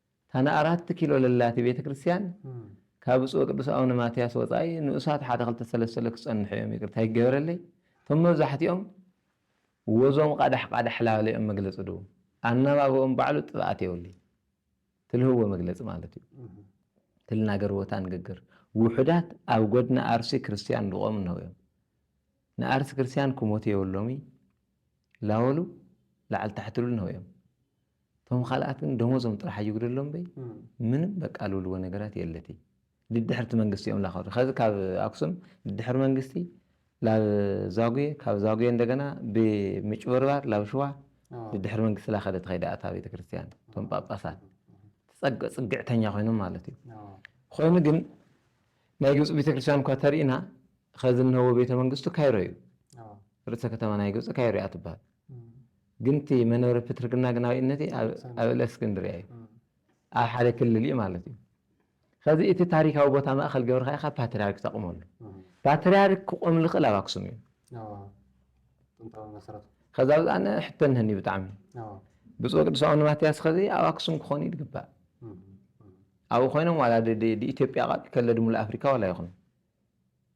እታ ንኣራት ኪሎ ለላቲ ቤተ ክርስቲያን ካብ ብፁዕ ወቅዱስ ኣውነ ማትያስ ወጻኢ ንኡሳት ሓደ ክልተ ሰለሰለ ክጸንሑ እዮም ይቅርታ ይገበረለይ እቶም መብዛሕቲኦም ወዞም ቃዳሕ ቃዳሕ ላበለ እዮም መግለጺ ድው ኣናባብኦም ባዕሉ ጥፍኣት የውልይ ትልህዎ መግለጺ ማለት እዩ ትልናገርዎታ ንግግር ውሑዳት ኣብ ጎድና ኣርሲ ክርስቲያን ድቆም እንሆ እዮም ንኣርሲ ክርስቲያን ክሞት የብሎምይ ላወሉ ላዕል ታሕትሉ እንሆ እዮም ቶም ኻልኣት ግን ደሞዞም ጥራሕ ኣይጉደሎም እምበይ ምንም በቃ ልብልዎ ነገራት የለቲ ድድሕር እቲ መንግስቲ እዮም ላኸዱ ኸዚ ካብ ኣክሱም ድድሕር መንግስቲ ላብ ዛጉየ ካብ ዛጉየ እንደገና ብምጭብርባር ላብ ሽዋ ድድሕር መንግስቲ ላኸደት ኸይዳ ኣታ ቤተክርስትያን ቶም ጳጳሳት ትጸግ ጽግዕተኛ ኮይኖም ማለት እዩ ኮይኑ ግን ናይ ግብጺ ቤተክርስትያን እኳ ተሪእና ኸዚ እነሆ ቤተ መንግስቱ ካይሮ እዩ ርእሰ ከተማ ናይ ግብጺ ካይሮ እያ ትብሃል ግን እቲ መንበረ ፕትርክና ግናዊነቲ ኣብ እለስክንድርያ እዩ። ኣብ ሓደ ክልል እዩ ማለት እዩ። ከዚ እቲ ታሪካዊ ቦታ ማእኸል ገብርካ ኢኻ ፓትርያርክ ተቕመሉ። ፓትርያርክ ክቆም ልኽእል ኣብ ኣክሱም እዩ። ከዛ ብዛ ኣነ ሕቶ እነሀኒ ብጣዕሚ ብፁዕ ቅዱስ ኣቡነ ማትያስ ከዚ ኣብ ኣክሱም ክኾኑ እዩ ዝግባእ ኣብኡ ኮይኖም ዋላ ኢትዮጵያ ቃል ከለድሙ ኣፍሪካ ዋላ ይኹን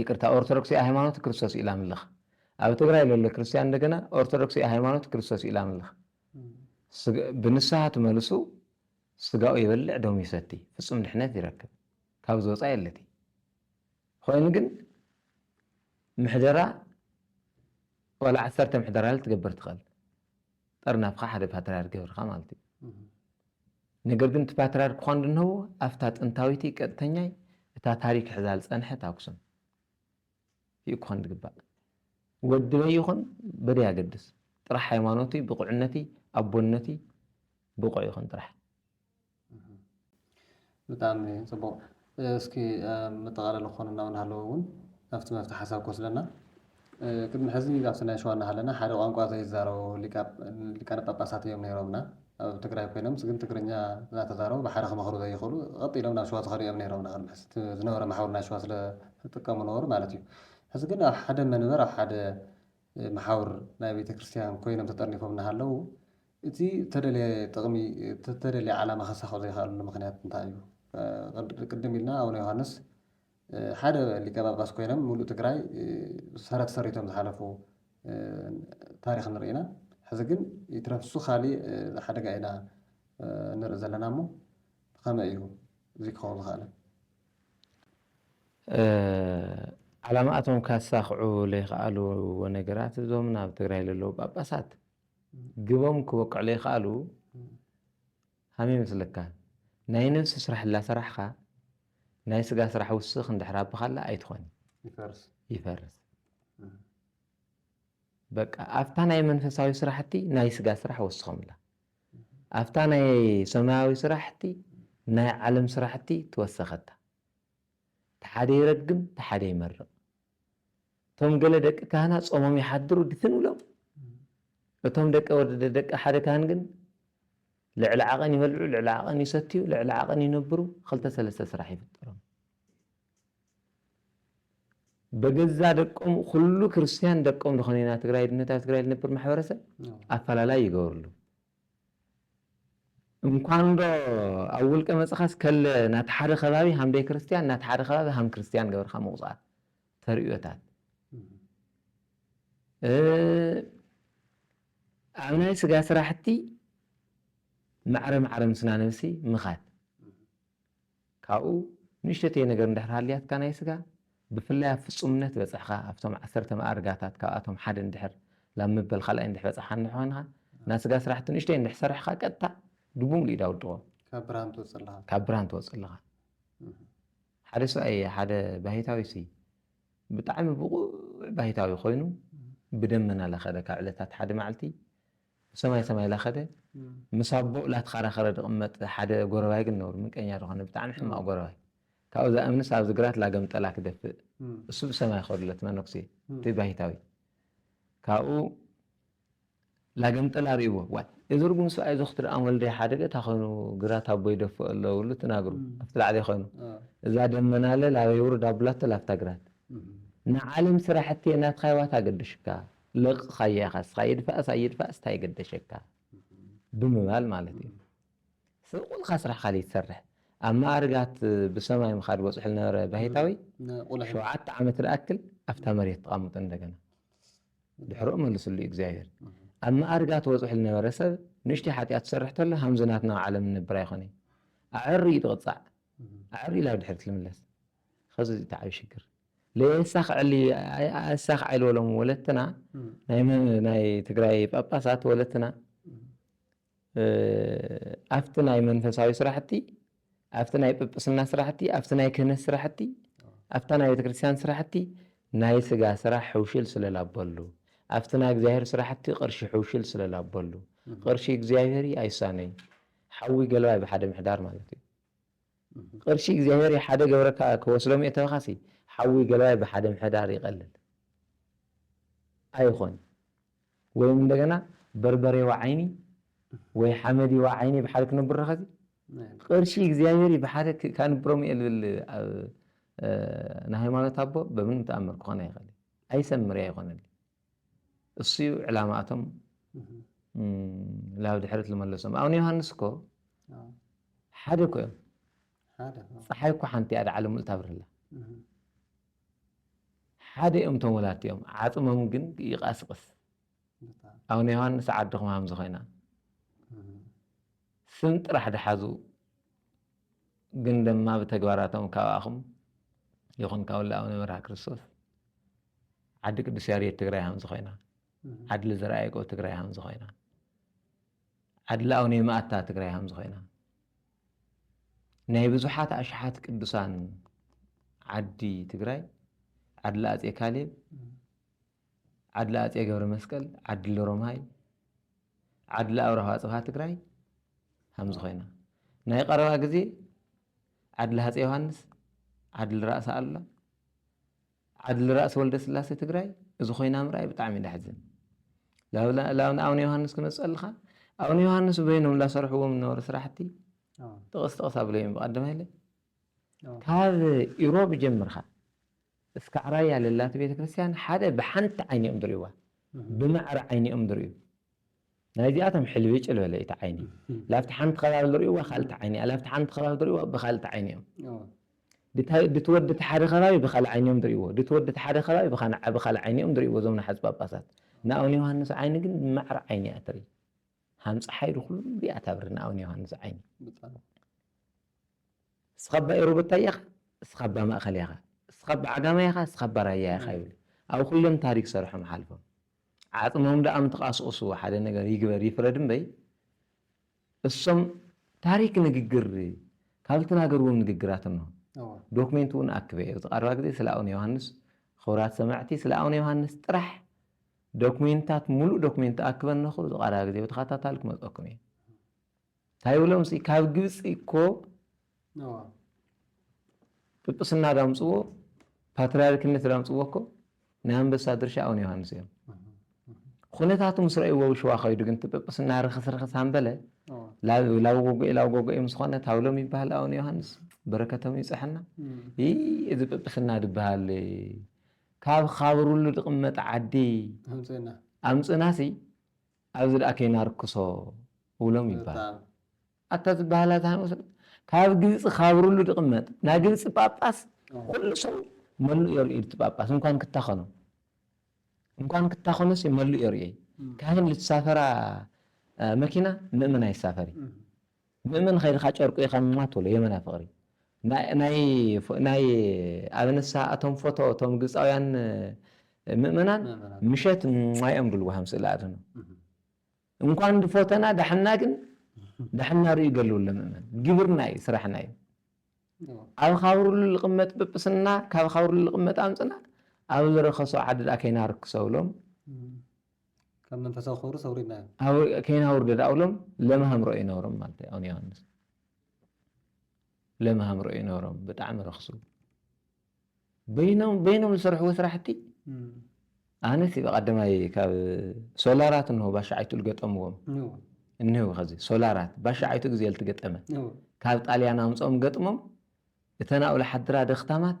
ይቅርታ ኦርቶዶክስ ኢያ ሃይማኖት ክርስቶስ ኢላ ምልኽ ኣብ ትግራይ ለሎ ክርስትያን እንደገና ኦርቶዶክስ ኢያ ሃይማኖት ክርስቶስ ኢላ ምልኽ ብንስሃ ትመልሱ ስጋኡ ይበልዕ ደሙ ይሰቲ ፍጹም ድሕነት ይረክብ ካብ ዝወፃ የለቲ ኮይኑ ግን ምሕደራ ዋላ ዓሰርተ ምሕደራ ትገብር ትኽእል ጠርናፍካ ሓደ ፓትርያርክ ገብርካ ማለት እዩ ነገር ግን እቲ ፓትርያርክ ኳን ድንሀቡ ኣብታ ጥንታዊቲ ቀጥተኛይ እታ ታሪክ ሕዛል ጸንሐት ኣኩሱም እዩ ኳን ድግባእ ወዲ መን ይኹን በደይ ኣገድስ ጥራሕ ሃይማኖቲ ብቁዕነቲ ኣቦነቲ ብቁዕ ይኹን ጥራሕ ብጣዕሚ ጽቡቕ እስኪ ኣብ መጠቓለሊ ክኾኑ እና እናሃለወ እውን ናብቲ መፍትሒ ሓሳብ ክወስደና ቅድሚ ሕዚ ኣብቲ ናይ ሸዋ እናሃለና ሓደ ቋንቋ ዘይዛረቡ ሊቃነ ጳጳሳት እዮም ነይሮምና ኣብ ትግራይ ኮይኖምስ ግን ትግርኛ እናተዛረቡ ብሓደ ክመኽሩ ዘይኽእሉ ቐጥ ኢሎም ናብ ሸዋ ዝኸዱ እዮም ነይሮምና ቅድሚ ሕዚ እቲ ዝነበረ መሓውር ናይ ሸዋ ስለዝጥቀሙ ነበሩ ማለት እዩ ሕዚ ግን ኣብ ሓደ መንበር ኣብ ሓደ መሓውር ናይ ቤተ ክርስቲያን ኮይኖም ተጠርኒፎም እናሃለዉ እቲ እተደልየ ጥቕሚ እቲ እተደልየ ዓላማ ኸሳኽዑ ዘይኸኣሉሉ ምኽንያት እንታይ እዩ? ቅድም ኢልና ኣቡነ ዮሃንስ ሓደ ሊቀ ጳጳስ ኮይኖም ሙሉእ ትግራይ ሰረት ሰሪቶም ዝሓለፉ ታሪኽ ንርኢ ኢና። ሕዚ ግን ይትረፍ እሱ ካሊእ ሓደጋ ኢና ንርኢ ዘለና እሞ ብኸመይ እዩ እዙይ ክኸውን ዝኸኣለ? ዓላማኣቶም ከሳኽዑ ለይኸኣሉዎ ነገራት እዞም ናብ ትግራይ ለለዉ ጳጳሳት ግቦም ክበቅዑ ለይክኣሉ ሃም ይመስለካ ናይ ነብሲ ስራሕ ላሰራሕኻ ናይ ስጋ ስራሕ ውስኽ እንድሕር ኣብኻላ ኣይትኾን ይፈርስ በቃ ኣብታ ናይ መንፈሳዊ ስራሕቲ ናይ ስጋ ስራሕ ወስኸምላ ኣብታ ናይ ሰማያዊ ስራሕቲ ናይ ዓለም ስራሕቲ ትወሰኸታ ተሓደ ይረግም ተሓደ ይመርቕ እቶም ገለ ደቂ ካህና ጾሞም ይሓድሩ ድፍን እሎም እቶም ደቂ ወዲ ደቂ ሓደ ካህን ግን ልዕሊ ዓቐን ይበልዑ ልዕሊ ዓቐን ይሰትዩ ልዕሊ ዓቐን ይነብሩ ክልተ ሰለስተ ስራሕ ይፍጠሮም በገዛ ደቆም ኩሉ ክርስትያን ደቆም ዝኾነ ኢና ትግራይ ድነት ኣብ ትግራይ ዝነብር ማሕበረሰብ ኣፈላላይ ይገብርሉ እንኳን ዶ ኣብ ውልቀ መጽኻስ ከለ ናቲ ሓደ ከባቢ ሃም ደይክርስትያን ናቲ ሓደ ከባቢ ሃም ክርስትያን ገብርካ ምቁጻር ተርእዮታት ኣብ ናይ ስጋ ስራሕቲ ማዕረ ማዕረ ምስና ነብሲ ምኻድ ካብኡ ንእሽተተይ ነገር እንድሕር ሃልያትካ ናይ ስጋ፣ ብፍላይ ኣብ ፍጹምነት በጽሕኻ፣ ኣብቶም ዓሰርተ መኣርጋታት ካብኣቶም ሓደ እንድሕር ላብ ምበል ካልኣይ እንድሕ በጻሕኻ እንድሕ ኮንኻ፣ ናይ ስጋ ስራሕቲ ንእሽተይ እንድሕ ሰርሕኻ ቀጥታ ድቡምሉኡ ኢዳ ውድቆ። ካብ ብርሃን ትወጽእ ኣለኻ። ካብ ብርሃን ትወጽእ ኣለኻ። ሓደ ሰብኣይ እየ ሓደ ባሂታዊ ሲ ብጣዕሚ ብቑዕ ባሂታዊ ኮይኑ ብደመና ለኸደ ካብ ዕለታት ሓደ መዓልቲ ሰማይ ሰማይ ላከደ ምስ ኣቦኡ ላትኻራኸረ ድቅመጥ ሓደ ጎረባይ ግን ነሩ ምንቀኛ ድኾነ ብጣዕሚ ሕማቅ ጎረባይ ካብኡ ዛእምንስ ኣብዚ ግራት ላገምጠላ ክደፍእ እሱ ብሰማይ ኸዱሎ እቲ መነኩሴ እቲ ባይታዊ ካብኡ ላገምጠላ ሪእዎ ዋይ እዚ ርጉም ስብኣይ እዚ ክትርኣም ወልደይ ሓደ ቤታ ኾይኑ ግራት ኣቦ ይደፍእ ኣሎ ብሉ ትናግሩ ኣብቲ ላዕሊ ኾይኑ እዛ ደመናለ ላበይ ውርድ ኣብላቶ ላብታ ግራት ንዓለም ስራሕቴ ናትኻይ ዋታ ኣገደሹካ ለቕቕኻያ ኢኻ እስኻ ይድፋእስ ኣይድፋእስ ታይ ገደሸካ ብምባል ማለት እዩ። ሰብ ቁልካ ስራሕካ ዘይትሰርሕ ኣብ መኣርጋት ብሰማይ ምኻድ በፅሑ ዝነበረ ባይታዊ ሸውዓተ ዓመት ዝኣክል ኣብታ መሬት ተቓምጡ እንደገና ድሕርኡ መልስሉ እዩ እግዚኣብሔር ኣብ መኣርጋት ወፅሑ ዝነበረ ሰብ ንእሽተይ ሓጢኣት ዝሰርሕ ተሎ ሃምዚ ናትና ኣብ ዓለም ንነብር ኣይኮነይ ኣዕሪ እዩ ዝቕፃዕ ኣዕሪ ኢላ ኣብ ድሕሪት ልምለስ ኸዚ እዚ ተዓቢ ሽግር ለየሳኽ ዕሊ ኣሳኽ ዕሊ ወሎም ወለትና ናይ ትግራይ ጳጳሳት ወለትና ኣፍቲ ናይ መንፈሳዊ ስራሕቲ ኣፍቲ ናይ ጵጵስና ስራሕቲ ኣፍቲ ናይ ክህነት ስራሕቲ ኣፍታ ናይ ቤተክርስትያን ስራሕቲ ናይ ስጋ ስራሕ ሕውሽል ስለላበሉ ኣብቲ ናይ እግዚኣብሔር ስራሕቲ ቅርሺ ሕውሽል ስለላበሉ ቅርሺ እግዚኣብሔር ኣይሳነይ ሓዊ ገልባይ ብሓደ ምሕዳር ማለት እዩ። ቕርሺ እግዚኣብሔር ይሓደ ገብረካ ክወስዶ ምእተካሲ ሓዊ ገለዋይ ብሓደ ምሕዳር ይቀልል ኣይኾን ወይም እንደገና በርበሬዋ ዓይኒ ወይ ሓመዲዋ ዓይኒ ብሓደ ክነብሮ ከዚ ቕርሺ እግዚኣብሔር ብሓደ ካንብሮ ምእልብል ኣብ ንሃይማኖት ኣቦ በምንም ተኣምር ክኾን ኣይኸል ኣይሰምር ኣይኾነል እሱዩ ዕላማ እቶም ላብ ድሕርት ልመለሶም ኣብነ ዮሃንስ እኮ ሓደ እኮ እዮም ፀሓይ እኮ ሓንቲ እያ ድዓለ ሙሉ ታብርህላ ሓደ እዮም እቶም ወላድቲ እዮም ዓፅሞም ግን ይቃስቅስ ኣብነ ዮሃንስ ዓድኹም ሃምዚ ኮይና ስም ጥራሕ ድሓዙ ግን ደማ ብተግባራቶም ካባኹም ይኹን ካብ ወላ ኣቡነ መርሃ ክርስቶስ ዓዲ ቅዱስ ያሬድ ትግራይ ሃምዚ ኮይና ዓድሊ ዘርኣ ያዕቆብ ትግራይ ሃምዚ ኮይና ዓድሊ ኣቡነ የማእታ ትግራይ ሃምዚ ኮይና ናይ ብዙሓት ኣሽሓት ቅዱሳን ዓዲ ትግራይ ዓድሊ ኣፄ ካሌብ ዓድሊ ኣፄ ገብረ መስቀል ዓድሊ ሮማይ ዓድሊ ኣብራሃ ኣጽብሃ ትግራይ ሃምዚ ኮይና። ናይ ቐረባ ግዜ ዓድሊ ሃጼ ዮሃንስ፣ ዓድሊ ራእሲ ኣሉላ፣ ዓድሊ ራእሲ ወልደስላሴ ትግራይ እዚ ኮይና ምርኣይ ብጣዕሚ እዩ ደሕዝን። ላብ ንኣብነ ዮሃንስ ክመጽእ ኣልኻ ኣብነ ዮሃንስ በይኖም ላሰርሕዎም ዝነበሩ ስራሕቲ ጥቕስ ጥቕስ ኣብለዮም ብቀደማይለ ካብ ኢሮብ ጀምርካ እስካዕ ራያ ለላቲ ቤተክርስትያን ሓደ ብሓንቲ ዓይኒ እዮም ድሪእዋ ብማዕረ ዓይኒ እዮም ድሪኡ ናይ እዚኣቶም ሕልብጭል በለ እቲ ዓይኒ ላብቲ ሓንቲ ከባቢ ድሪእዋ ካልቲ ዓይኒ እያ ላብቲ ሓንቲ ከባቢ ድሪእዋ ብካልቲ ዓይኒ እዮም ድቲ ወዲ እቲ ሓደ ከባቢ ብካልእ ዓይኒ እዮም ድሪእዎ ድቲ ወዲ እቲ ሓደ ከባቢ ብካልእ ዓይኒ እዮም ድሪእዎ እዞም ናሓጹ ጳጳሳት ንኣቡነ ዮሃንስ ዓይኒ ግን ብማዕረ ዓይኒ እያ ትርኢ ሃም ጸሓይ ድኩሉ እያ ታብሪ ንኣቡነ ዮሃንስ ዓይኒ እስኻ እባ ኤሮበታይ ኢኻ እስኻ እባ ማእኸላይ ኢኻ እስኻ እባ ዓጋማይ ኢኻ እስኻ እባ ራያ ኢኻ ይብሉ ኣብ ኹሎም ታሪክ ሰርሖም ሓልፎም ዓፅሞም ዳኣ ምተቃስቁስዎ ሓደ ነገር ይግበር ይፍረድ እምበይ እሶም ታሪክ ንግግር ካብ ዝተናገርዎም ንግግራት እነሆ ዶክሜንት እውን ኣክበ እየ ኣብዚ ቀረባ ግዜ ስለ ኣቡነ ዮሃንስ ኽቡራት ሰማዕቲ ስለ ኣቡነ ዮሃንስ ጥራሕ ዶክሜንታት ሙሉእ ዶክሜንት ኣክበ እነኹ እዚ ቀረባ ግዜ ብተኸታታሊ ክመፀኩም እየ ታይ ብሎም ሲ ካብ ግብፂ እኮ ጵጵስና ዳምፅዎ ፓትርያርክነት ዳምፅዎ እኮ ናይ ኣንበሳ ድርሻ ኣቡነ ዮሃንስ እዮም። ኩነታቱ ምስ ረእይዎ ሽዋ ከይዱ ግን ጵጵስና ርክስ ርክስ ኣንበለ ላብ ጎጎ ኢላብ ጎጎ እዮም ዝኾነ ታብሎም ይበሃል ኣቡነ ዮሃንስ በረከቶም ይብፅሐና። እዚ ጵጵስና ዝበሃል ካብ ካብርሉ ድቕመጥ ዓዲ ኣምፅና ሲ ኣብዚ ደኣ ከይናርክሶ እብሎም ይባሃል። ኣታ እዚ ባህላ ዝሃንወሰ ካብ ግብጺ ካብርሉ ድቅመጥ ናይ ግብጺ ጳጳስ ኩሉ ሰብ መሉ እዮ ርእዩ እቲ ጳጳስ እንኳን ክታኸኖ እንኳን ክታኸኖስ መሉ እዮ ርእዩ ካህን ልትሳፈራ መኪና ምእመን ኣይሳፈር እዩ። ምእመን ኸይድኻ ጨርቁ ኢኻ እማ ትብሎ የመና ፍቅሪ ናይ ኣብነሳ ኣቶም ፎቶ እቶም ግብጻውያን ምእመናን ምሸት እማ ኢዮም ድብልዎ ሃም ስእሊ ኣድህኖ እንኳን ድፎተና ዳሕና ግን ዳሕና ርእዩ ገልብሎ ምእመን ግብርና ኢዩ ስራሕና ኢዩ ኣብ ኻብርሉ ልቅመጥ ጵጵስና ካብ ኻብርሉ ልቅመጥ ኣምጽና ኣብ ልረኸሶ ዓዲ ድኣ ከይናርክሶ ብሎም ካብ መንፈሳዊ ክብሩስ ኣውሪድናዮ። ከይናውርደ ደኣ እብሎም ለም ሃምሮ እዩ ነሮም ማለት እዩ ኣቡነ ዮሃንስ ለም ሃምሮ እዩ ነሮም ብጣዕሚ ረክሱ በይኖም በይኖም ዝሰርሕዎ ስራሕቲ ኣነስ ብቀዳማይ ካብ ሶላራት እንሆ ባሻዓይቱ ዝገጠምዎም እኒህው ከዚ ሶላራት ባሻዓይቱ ግዜ ልትገጠመ ካብ ጣልያን ኣምፅኦም ገጥሞም እተን ኣብኡ ዝሓድራ ደክታማት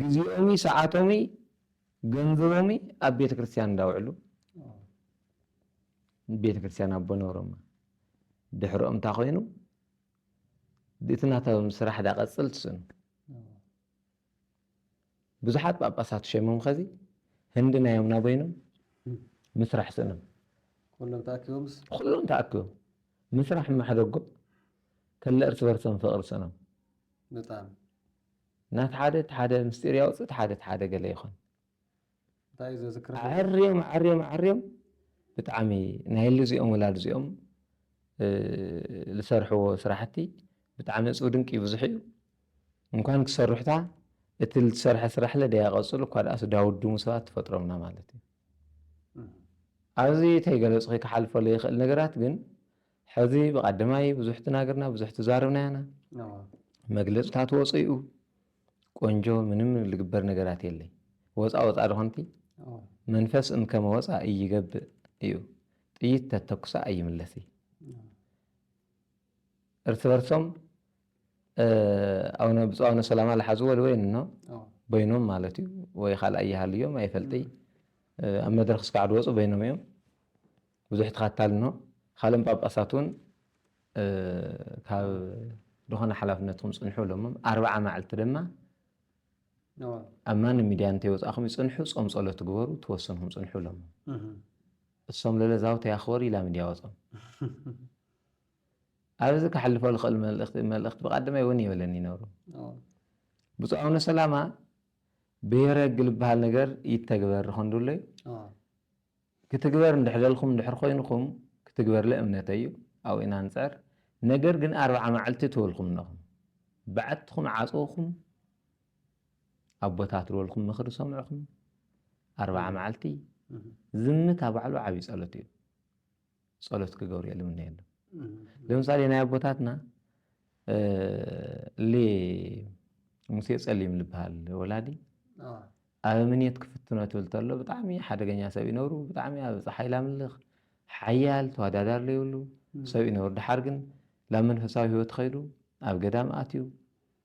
ግዜኦሚ ሰዓቶሚ ገንዘቦሚ ኣብ ቤተ ክርስቲያን እንዳውዕሉ ቤተ ክርስቲያን ኣቦ ነሮማ ድሕሮኦም እንታ ኮይኑ እቲ ናቶም ስራሕ ዳቐፅል ትስኑ ብዙሓት ጳጳሳት ሸሞም ኸዚ ህንዲ ናዮም ናበይኖም ምስራሕ ስእኖም ኩሎም ተኣኪቦምስ ኩሎም ተኣኪቦም ምስራሕ ማሕደጎ ከለ እርስ በርሶም ፍቕሪ ስእኖም ንጣብ። ናት ሓደ እቲ ሓደ ምስጢር ያውጽእ እቲ ሓደ እቲ ሓደ ገለ ይኾን። እንታይ እዩ ዘዝክር ዘሎ? ኣዐርዮም ኣዐርዮም ኣዐርዮም ብጣዕሚ ናይ እሊ እዚኦም ወላዲ እዚኦም ልሰርሕዎ ስራሕቲ ብጣዕሚ እጹብ ድንቅ እዩ ብዙሕ እዩ እንኳን ክሰሩሕታ እቲ ልትሰርሐ ስራሕለ ደያ ቀጽሉ እኳ ደኣስ ዳውድሙ ሰባት ትፈጥሮምና ማለት እዩ ኣብዚ ተይገለጽኺ ክሓልፈሉ ይኽእል ነገራት ግን ሕዚ ብቀደማይ ብዙሕ ትናገርና ብዙሕ ትዛርብና ያና መግለጽታት ወጽኡ ቆንጆ ምንም ልግበር ነገራት የለይ ወፃ ወፃ ድኾንቲ መንፈስ እም ከመ ወፃ እይገብእ እዩ ጥይት ተተኩሳ ኣይምለስ እዩ እርስ በርሶም ኣነ ብፁዕ ኣነ ሰላማ ዝሓዝዎ ወይን ኖ በይኖም ማለት እዩ ወይ ካልኣ ይሃልዮም ኣይፈልጥይ ኣብ መድረክ እስካዕ ድወፁ በይኖም እዮም ብዙሕ ተኸታልኖ ካልኦም ጳጳሳትውን ካብ ድኾነ ሓላፍነትኩም ጽንሑ እሎምም ኣርብዓ ማዕልቲ ድማ ኣብ ማንም ሚድያ እንተይወጻእኹም ይጽንሑ ጾም ጸሎት ትግበሩ ትወስንኹም ጽንሑ እሎምም እሶም ለለ ዛውተ ያኽበሩ ኢላ ሚድያ ወጾም ኣብዚ ክሓልፎ ልኽእል መልእኽቲ መልእኽቲ ብቃድማይ እውን ይበለኒ ይነብሩ ብፁዕ ኣቡነ ሰላማ ብሔረ ሕግ ልበሃል ነገር ይተግበር ኾንዱለይ ክትግበር እንድሕ በልኩም እንድሕር ኮይንኩም ክትግበርለ እምነተይ እዩ ኣብኡ ኢና ንጽዕር ነገር ግን ኣርብዓ ማዕልቲ ትበልኩም እነኹም ብዓትኹም ዓጽውኹም ኣቦታት ዝበልኩም ምኽሪ ሰምዕኹም ኣርብዓ ማዕልቲ ዝምታ ባዕሉ ዓብይ ጸሎት እዩ ጸሎት ክገብሩ ልምነየሎም ለምሳሌ ናይ ኣቦታትና ሌ ሙሴ ጸሊም ልበሃል ወላዲ ኣብ እምኔት ክፍትኖ ትብል ተሎ ብጣዕሚ ሓደገኛ ሰብ ይነብሩ ብጣዕሚ ኣብ ፀሓይ ላምልኽ ሓያል ተወዳዳሪ ዘይብሉ ሰብ ይነብሩ ድሓር ግን ላብ መንፈሳዊ ህይወት ኸይዱ ኣብ ገዳም ኣትዩ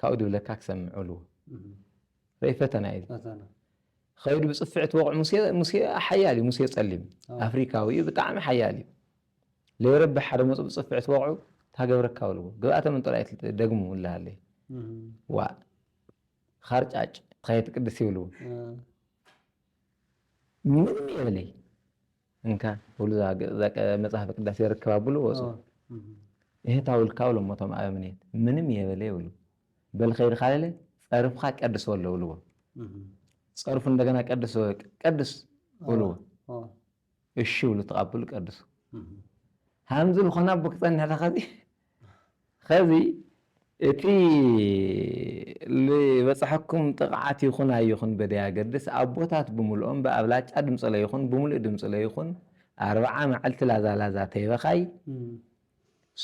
ካብኡ ድብለካ ክሰምዕሉ ረኢ ፈተና እዩ ፈተና ኸይዱ ብፅፍዕት ወቕዑ ሙሴ ሙሴ ሓያል እዩ ሙሴ ፀሊም አዎ። ኣፍሪካዊ እዩ ብጣዕሚ ሓያል እዩ ለይረብሕ ሓደ መፁ ብፅፍዕት ወቕዑ ታገብረካ በልዎ ግብኣተ ምንጦር ኣይትል ደግሙ እልሃለይ እም፣ ዋእ ኻርጫጭ ኸየትቅድስ ይብልዎ እ፣ ምንም የብለይ እንካ ብሉ እዛ መጽሐፈ ቅዳሴ ርክባ ብሉ ወጹ እህታ ውልካ ብሎ ሞቶም ኣበምኔት ምንም የበለ ይብሉ በል ከይድ ካለለ ጸርፍካ ቀድስ ወሎ ብልዎ ጸርፉ እንደገና ቀድስ ቀድስ ብልዎ እሺ ብሉ ተቃብሉ ቀድሱ ሃምዚ ልኾና ኣቦ ክጸንሕ ተኸዚ ኸዚ እቲ ልበጽሐኩም ጥቕዓት ይኹን ኣይኹን በደያገድስ ኣቦታት ብምሉኦም ብኣብላጫ ድምጺ ለይኹን ብምሉእ ድምጺ ለይኹን ኣርብዓ መዐልቲ ላዛ ላዛ ተይበኻይ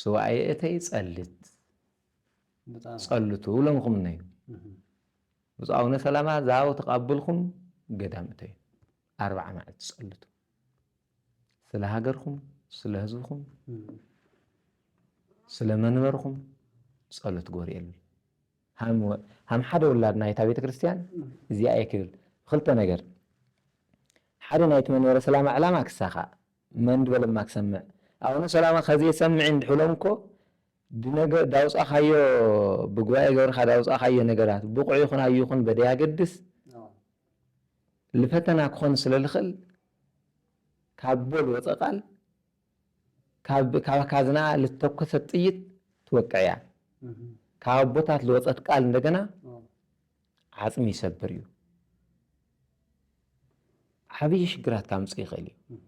ሱባኤ እተይ ጸልት ጸልቱ እብሎምኹም እነዩ ብፁዕ ኣቡነ ሰላማ ዛው ተቃብልኩም ገዳም እተዩ ኣርብዓ መዐልቲ ጸልቱ ስለ ሃገርኩም፣ ስለ ህዝብኩም፣ ስለ መንበርኩም ጸሎት ግበሩ የሉ። ሃም ሓደ ውላድ ናይታ ቤተ ክርስቲያን እዚኣ እየ ክብል ክልተ ነገር ሓደ ናይቲ መንበረ ሰላማ ዕላማ ክሳኻእ መን ድበለማ ክሰምዕ ኣቡነ ሰላማ ከዘይሰምዕ እንድሕሎም እኮ ድነገ ዳውጻኻዮ ብጉባኤ ገብርካ ዳውጻኻዮ ነገራት ብቑዕ ይኹን ኣይኹን በደያገድስ ልፈተና ክኾን ስለ ልኽእል ካብ ቦል ወጸ ቃል ካብ ካብ ካዝናኣ ልተኮሰት ጥይት ትወቅዕ እያ ካብ ኣቦታት ልወጸት ቃል እንደገና ዓጽሚ ይሰብር እዩ ዓብዪ ሽግራት ካምጽእ ይኽእል እዩ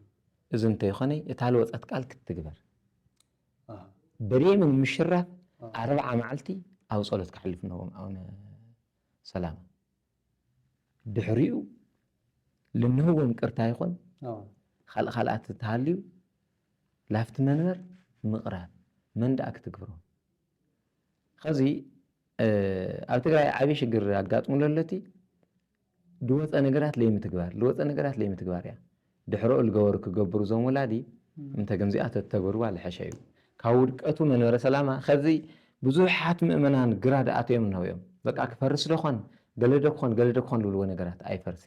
እዚ እንተይኾነ እታ ልወጸት ቃል ክትትግበር በሪምን ምሽራፍ ኣርብዓ መዓልቲ ኣብ ጸሎት ክሕልፍ ነዎም ኣነ ሰላም ድሕሪኡ ልንህዎ ምቅርታ ይኾን ኻልእ ኻልኣት እንተሃልዩ ላፍቲ መንበር ምቅራብ መን ዳኣ ክትግብሮ ኸዚ ኣብ ትግራይ ዓብይ ሽግር ኣጋጥሙ ለሎቲ ድወፀ ነገራት ለይምትግባር ልወፀ ነገራት ለይምትግባር እያ ድሕረኡ ልገበሩ ክገብሩ እዞም ወላዲ እንተ ከምዚኣ ተተግብርዋ ልሐሸ እዩ ካብ ውድቀቱ መንበረ ሰላማ ከዚ ብዙሓት ምእመናን ግራድ ኣትዮም እነሆ እዮም በቃ ክፈርስ ዶ ኾን ገለ ዶ ክኾን ገለ ዶ ክኾን ልብልዎ ነገራት ኣይፈርስ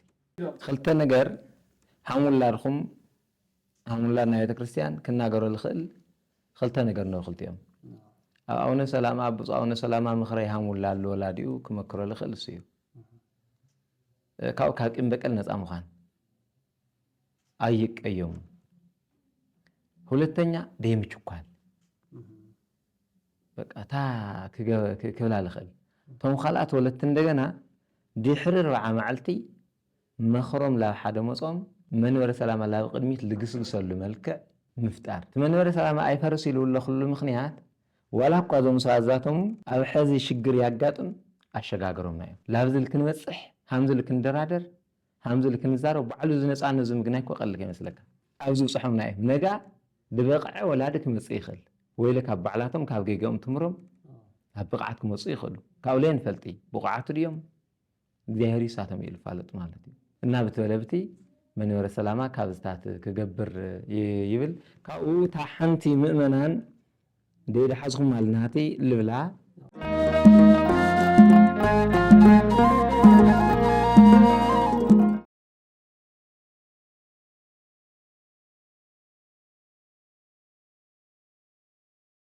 ኽልተ ነገር ሃም ውላድኹም ሃም ውላድ ናይ ቤተክርስትያን ክናገሮ ልኽእል ኽልተ ነገር እነሆ ክልቲኦም ኣብ ኣውነ ሰላማ ኣብ ብፁዕ ኣውነ ሰላማ ምኽረይ ሃም ውላድ ልወላዲኡ ክመክሮ ልኽእል እሱ እዩ ካብ ካብ ቂም በቀል ነፃ ምዃን ኣይቀየሙን። ሁለተኛ ደይምችኳል በቃ እታ ክብላ ልኽእል እቶም ካልኣት ወለቲ እንደገና ድሕሪ ርብዓ መዓልቲ መኽሮም ላብ ሓደ መጾም መንበረ ሰላማ ላብ ቅድሚት ልግስግሰሉ መልክዕ ምፍጣር እቲ መንበረ ሰላማ ኣይፈርስ ኢሉ ለኽሉ ምኽንያት ዋላ እኳ እዞም ሰባት ዛቶም ኣብ ሕዚ ሽግር ያጋጥም ኣሸጋገሮምና እዮም ላብዚ ልክንበጽሕ ሃምዚ ልክንደራደር ሃምዚ እልክ ንዛረብ ባዕሉ እዚ ነጻነት እዚ ምግናይ እኮ ቀልል ከይመስለካ ኣብ ዝብጽሖምና እዩም ነጋ ድበቅዐ ወላዲ ክመጽእ ይክል ወይለ ካብ ባዕላቶም ካብ ገገኦም ትምሮም ኣብ ብቅዓት ክመጹ ይክእሉ ካብኡ ለይ ንፈልጢ ብቁዓቱ ድዮም እግዚኣብሔር ይሳቶም እዩ ልፋለጥ ማለት እዩ እና ብትበለብቲ መንበረ ሰላማ ካብዝታት ክገብር ይብል ካብኡ እታ ሓንቲ ምእመናን ደይ ድሓዝኩም ማል ናህቲ ልብላ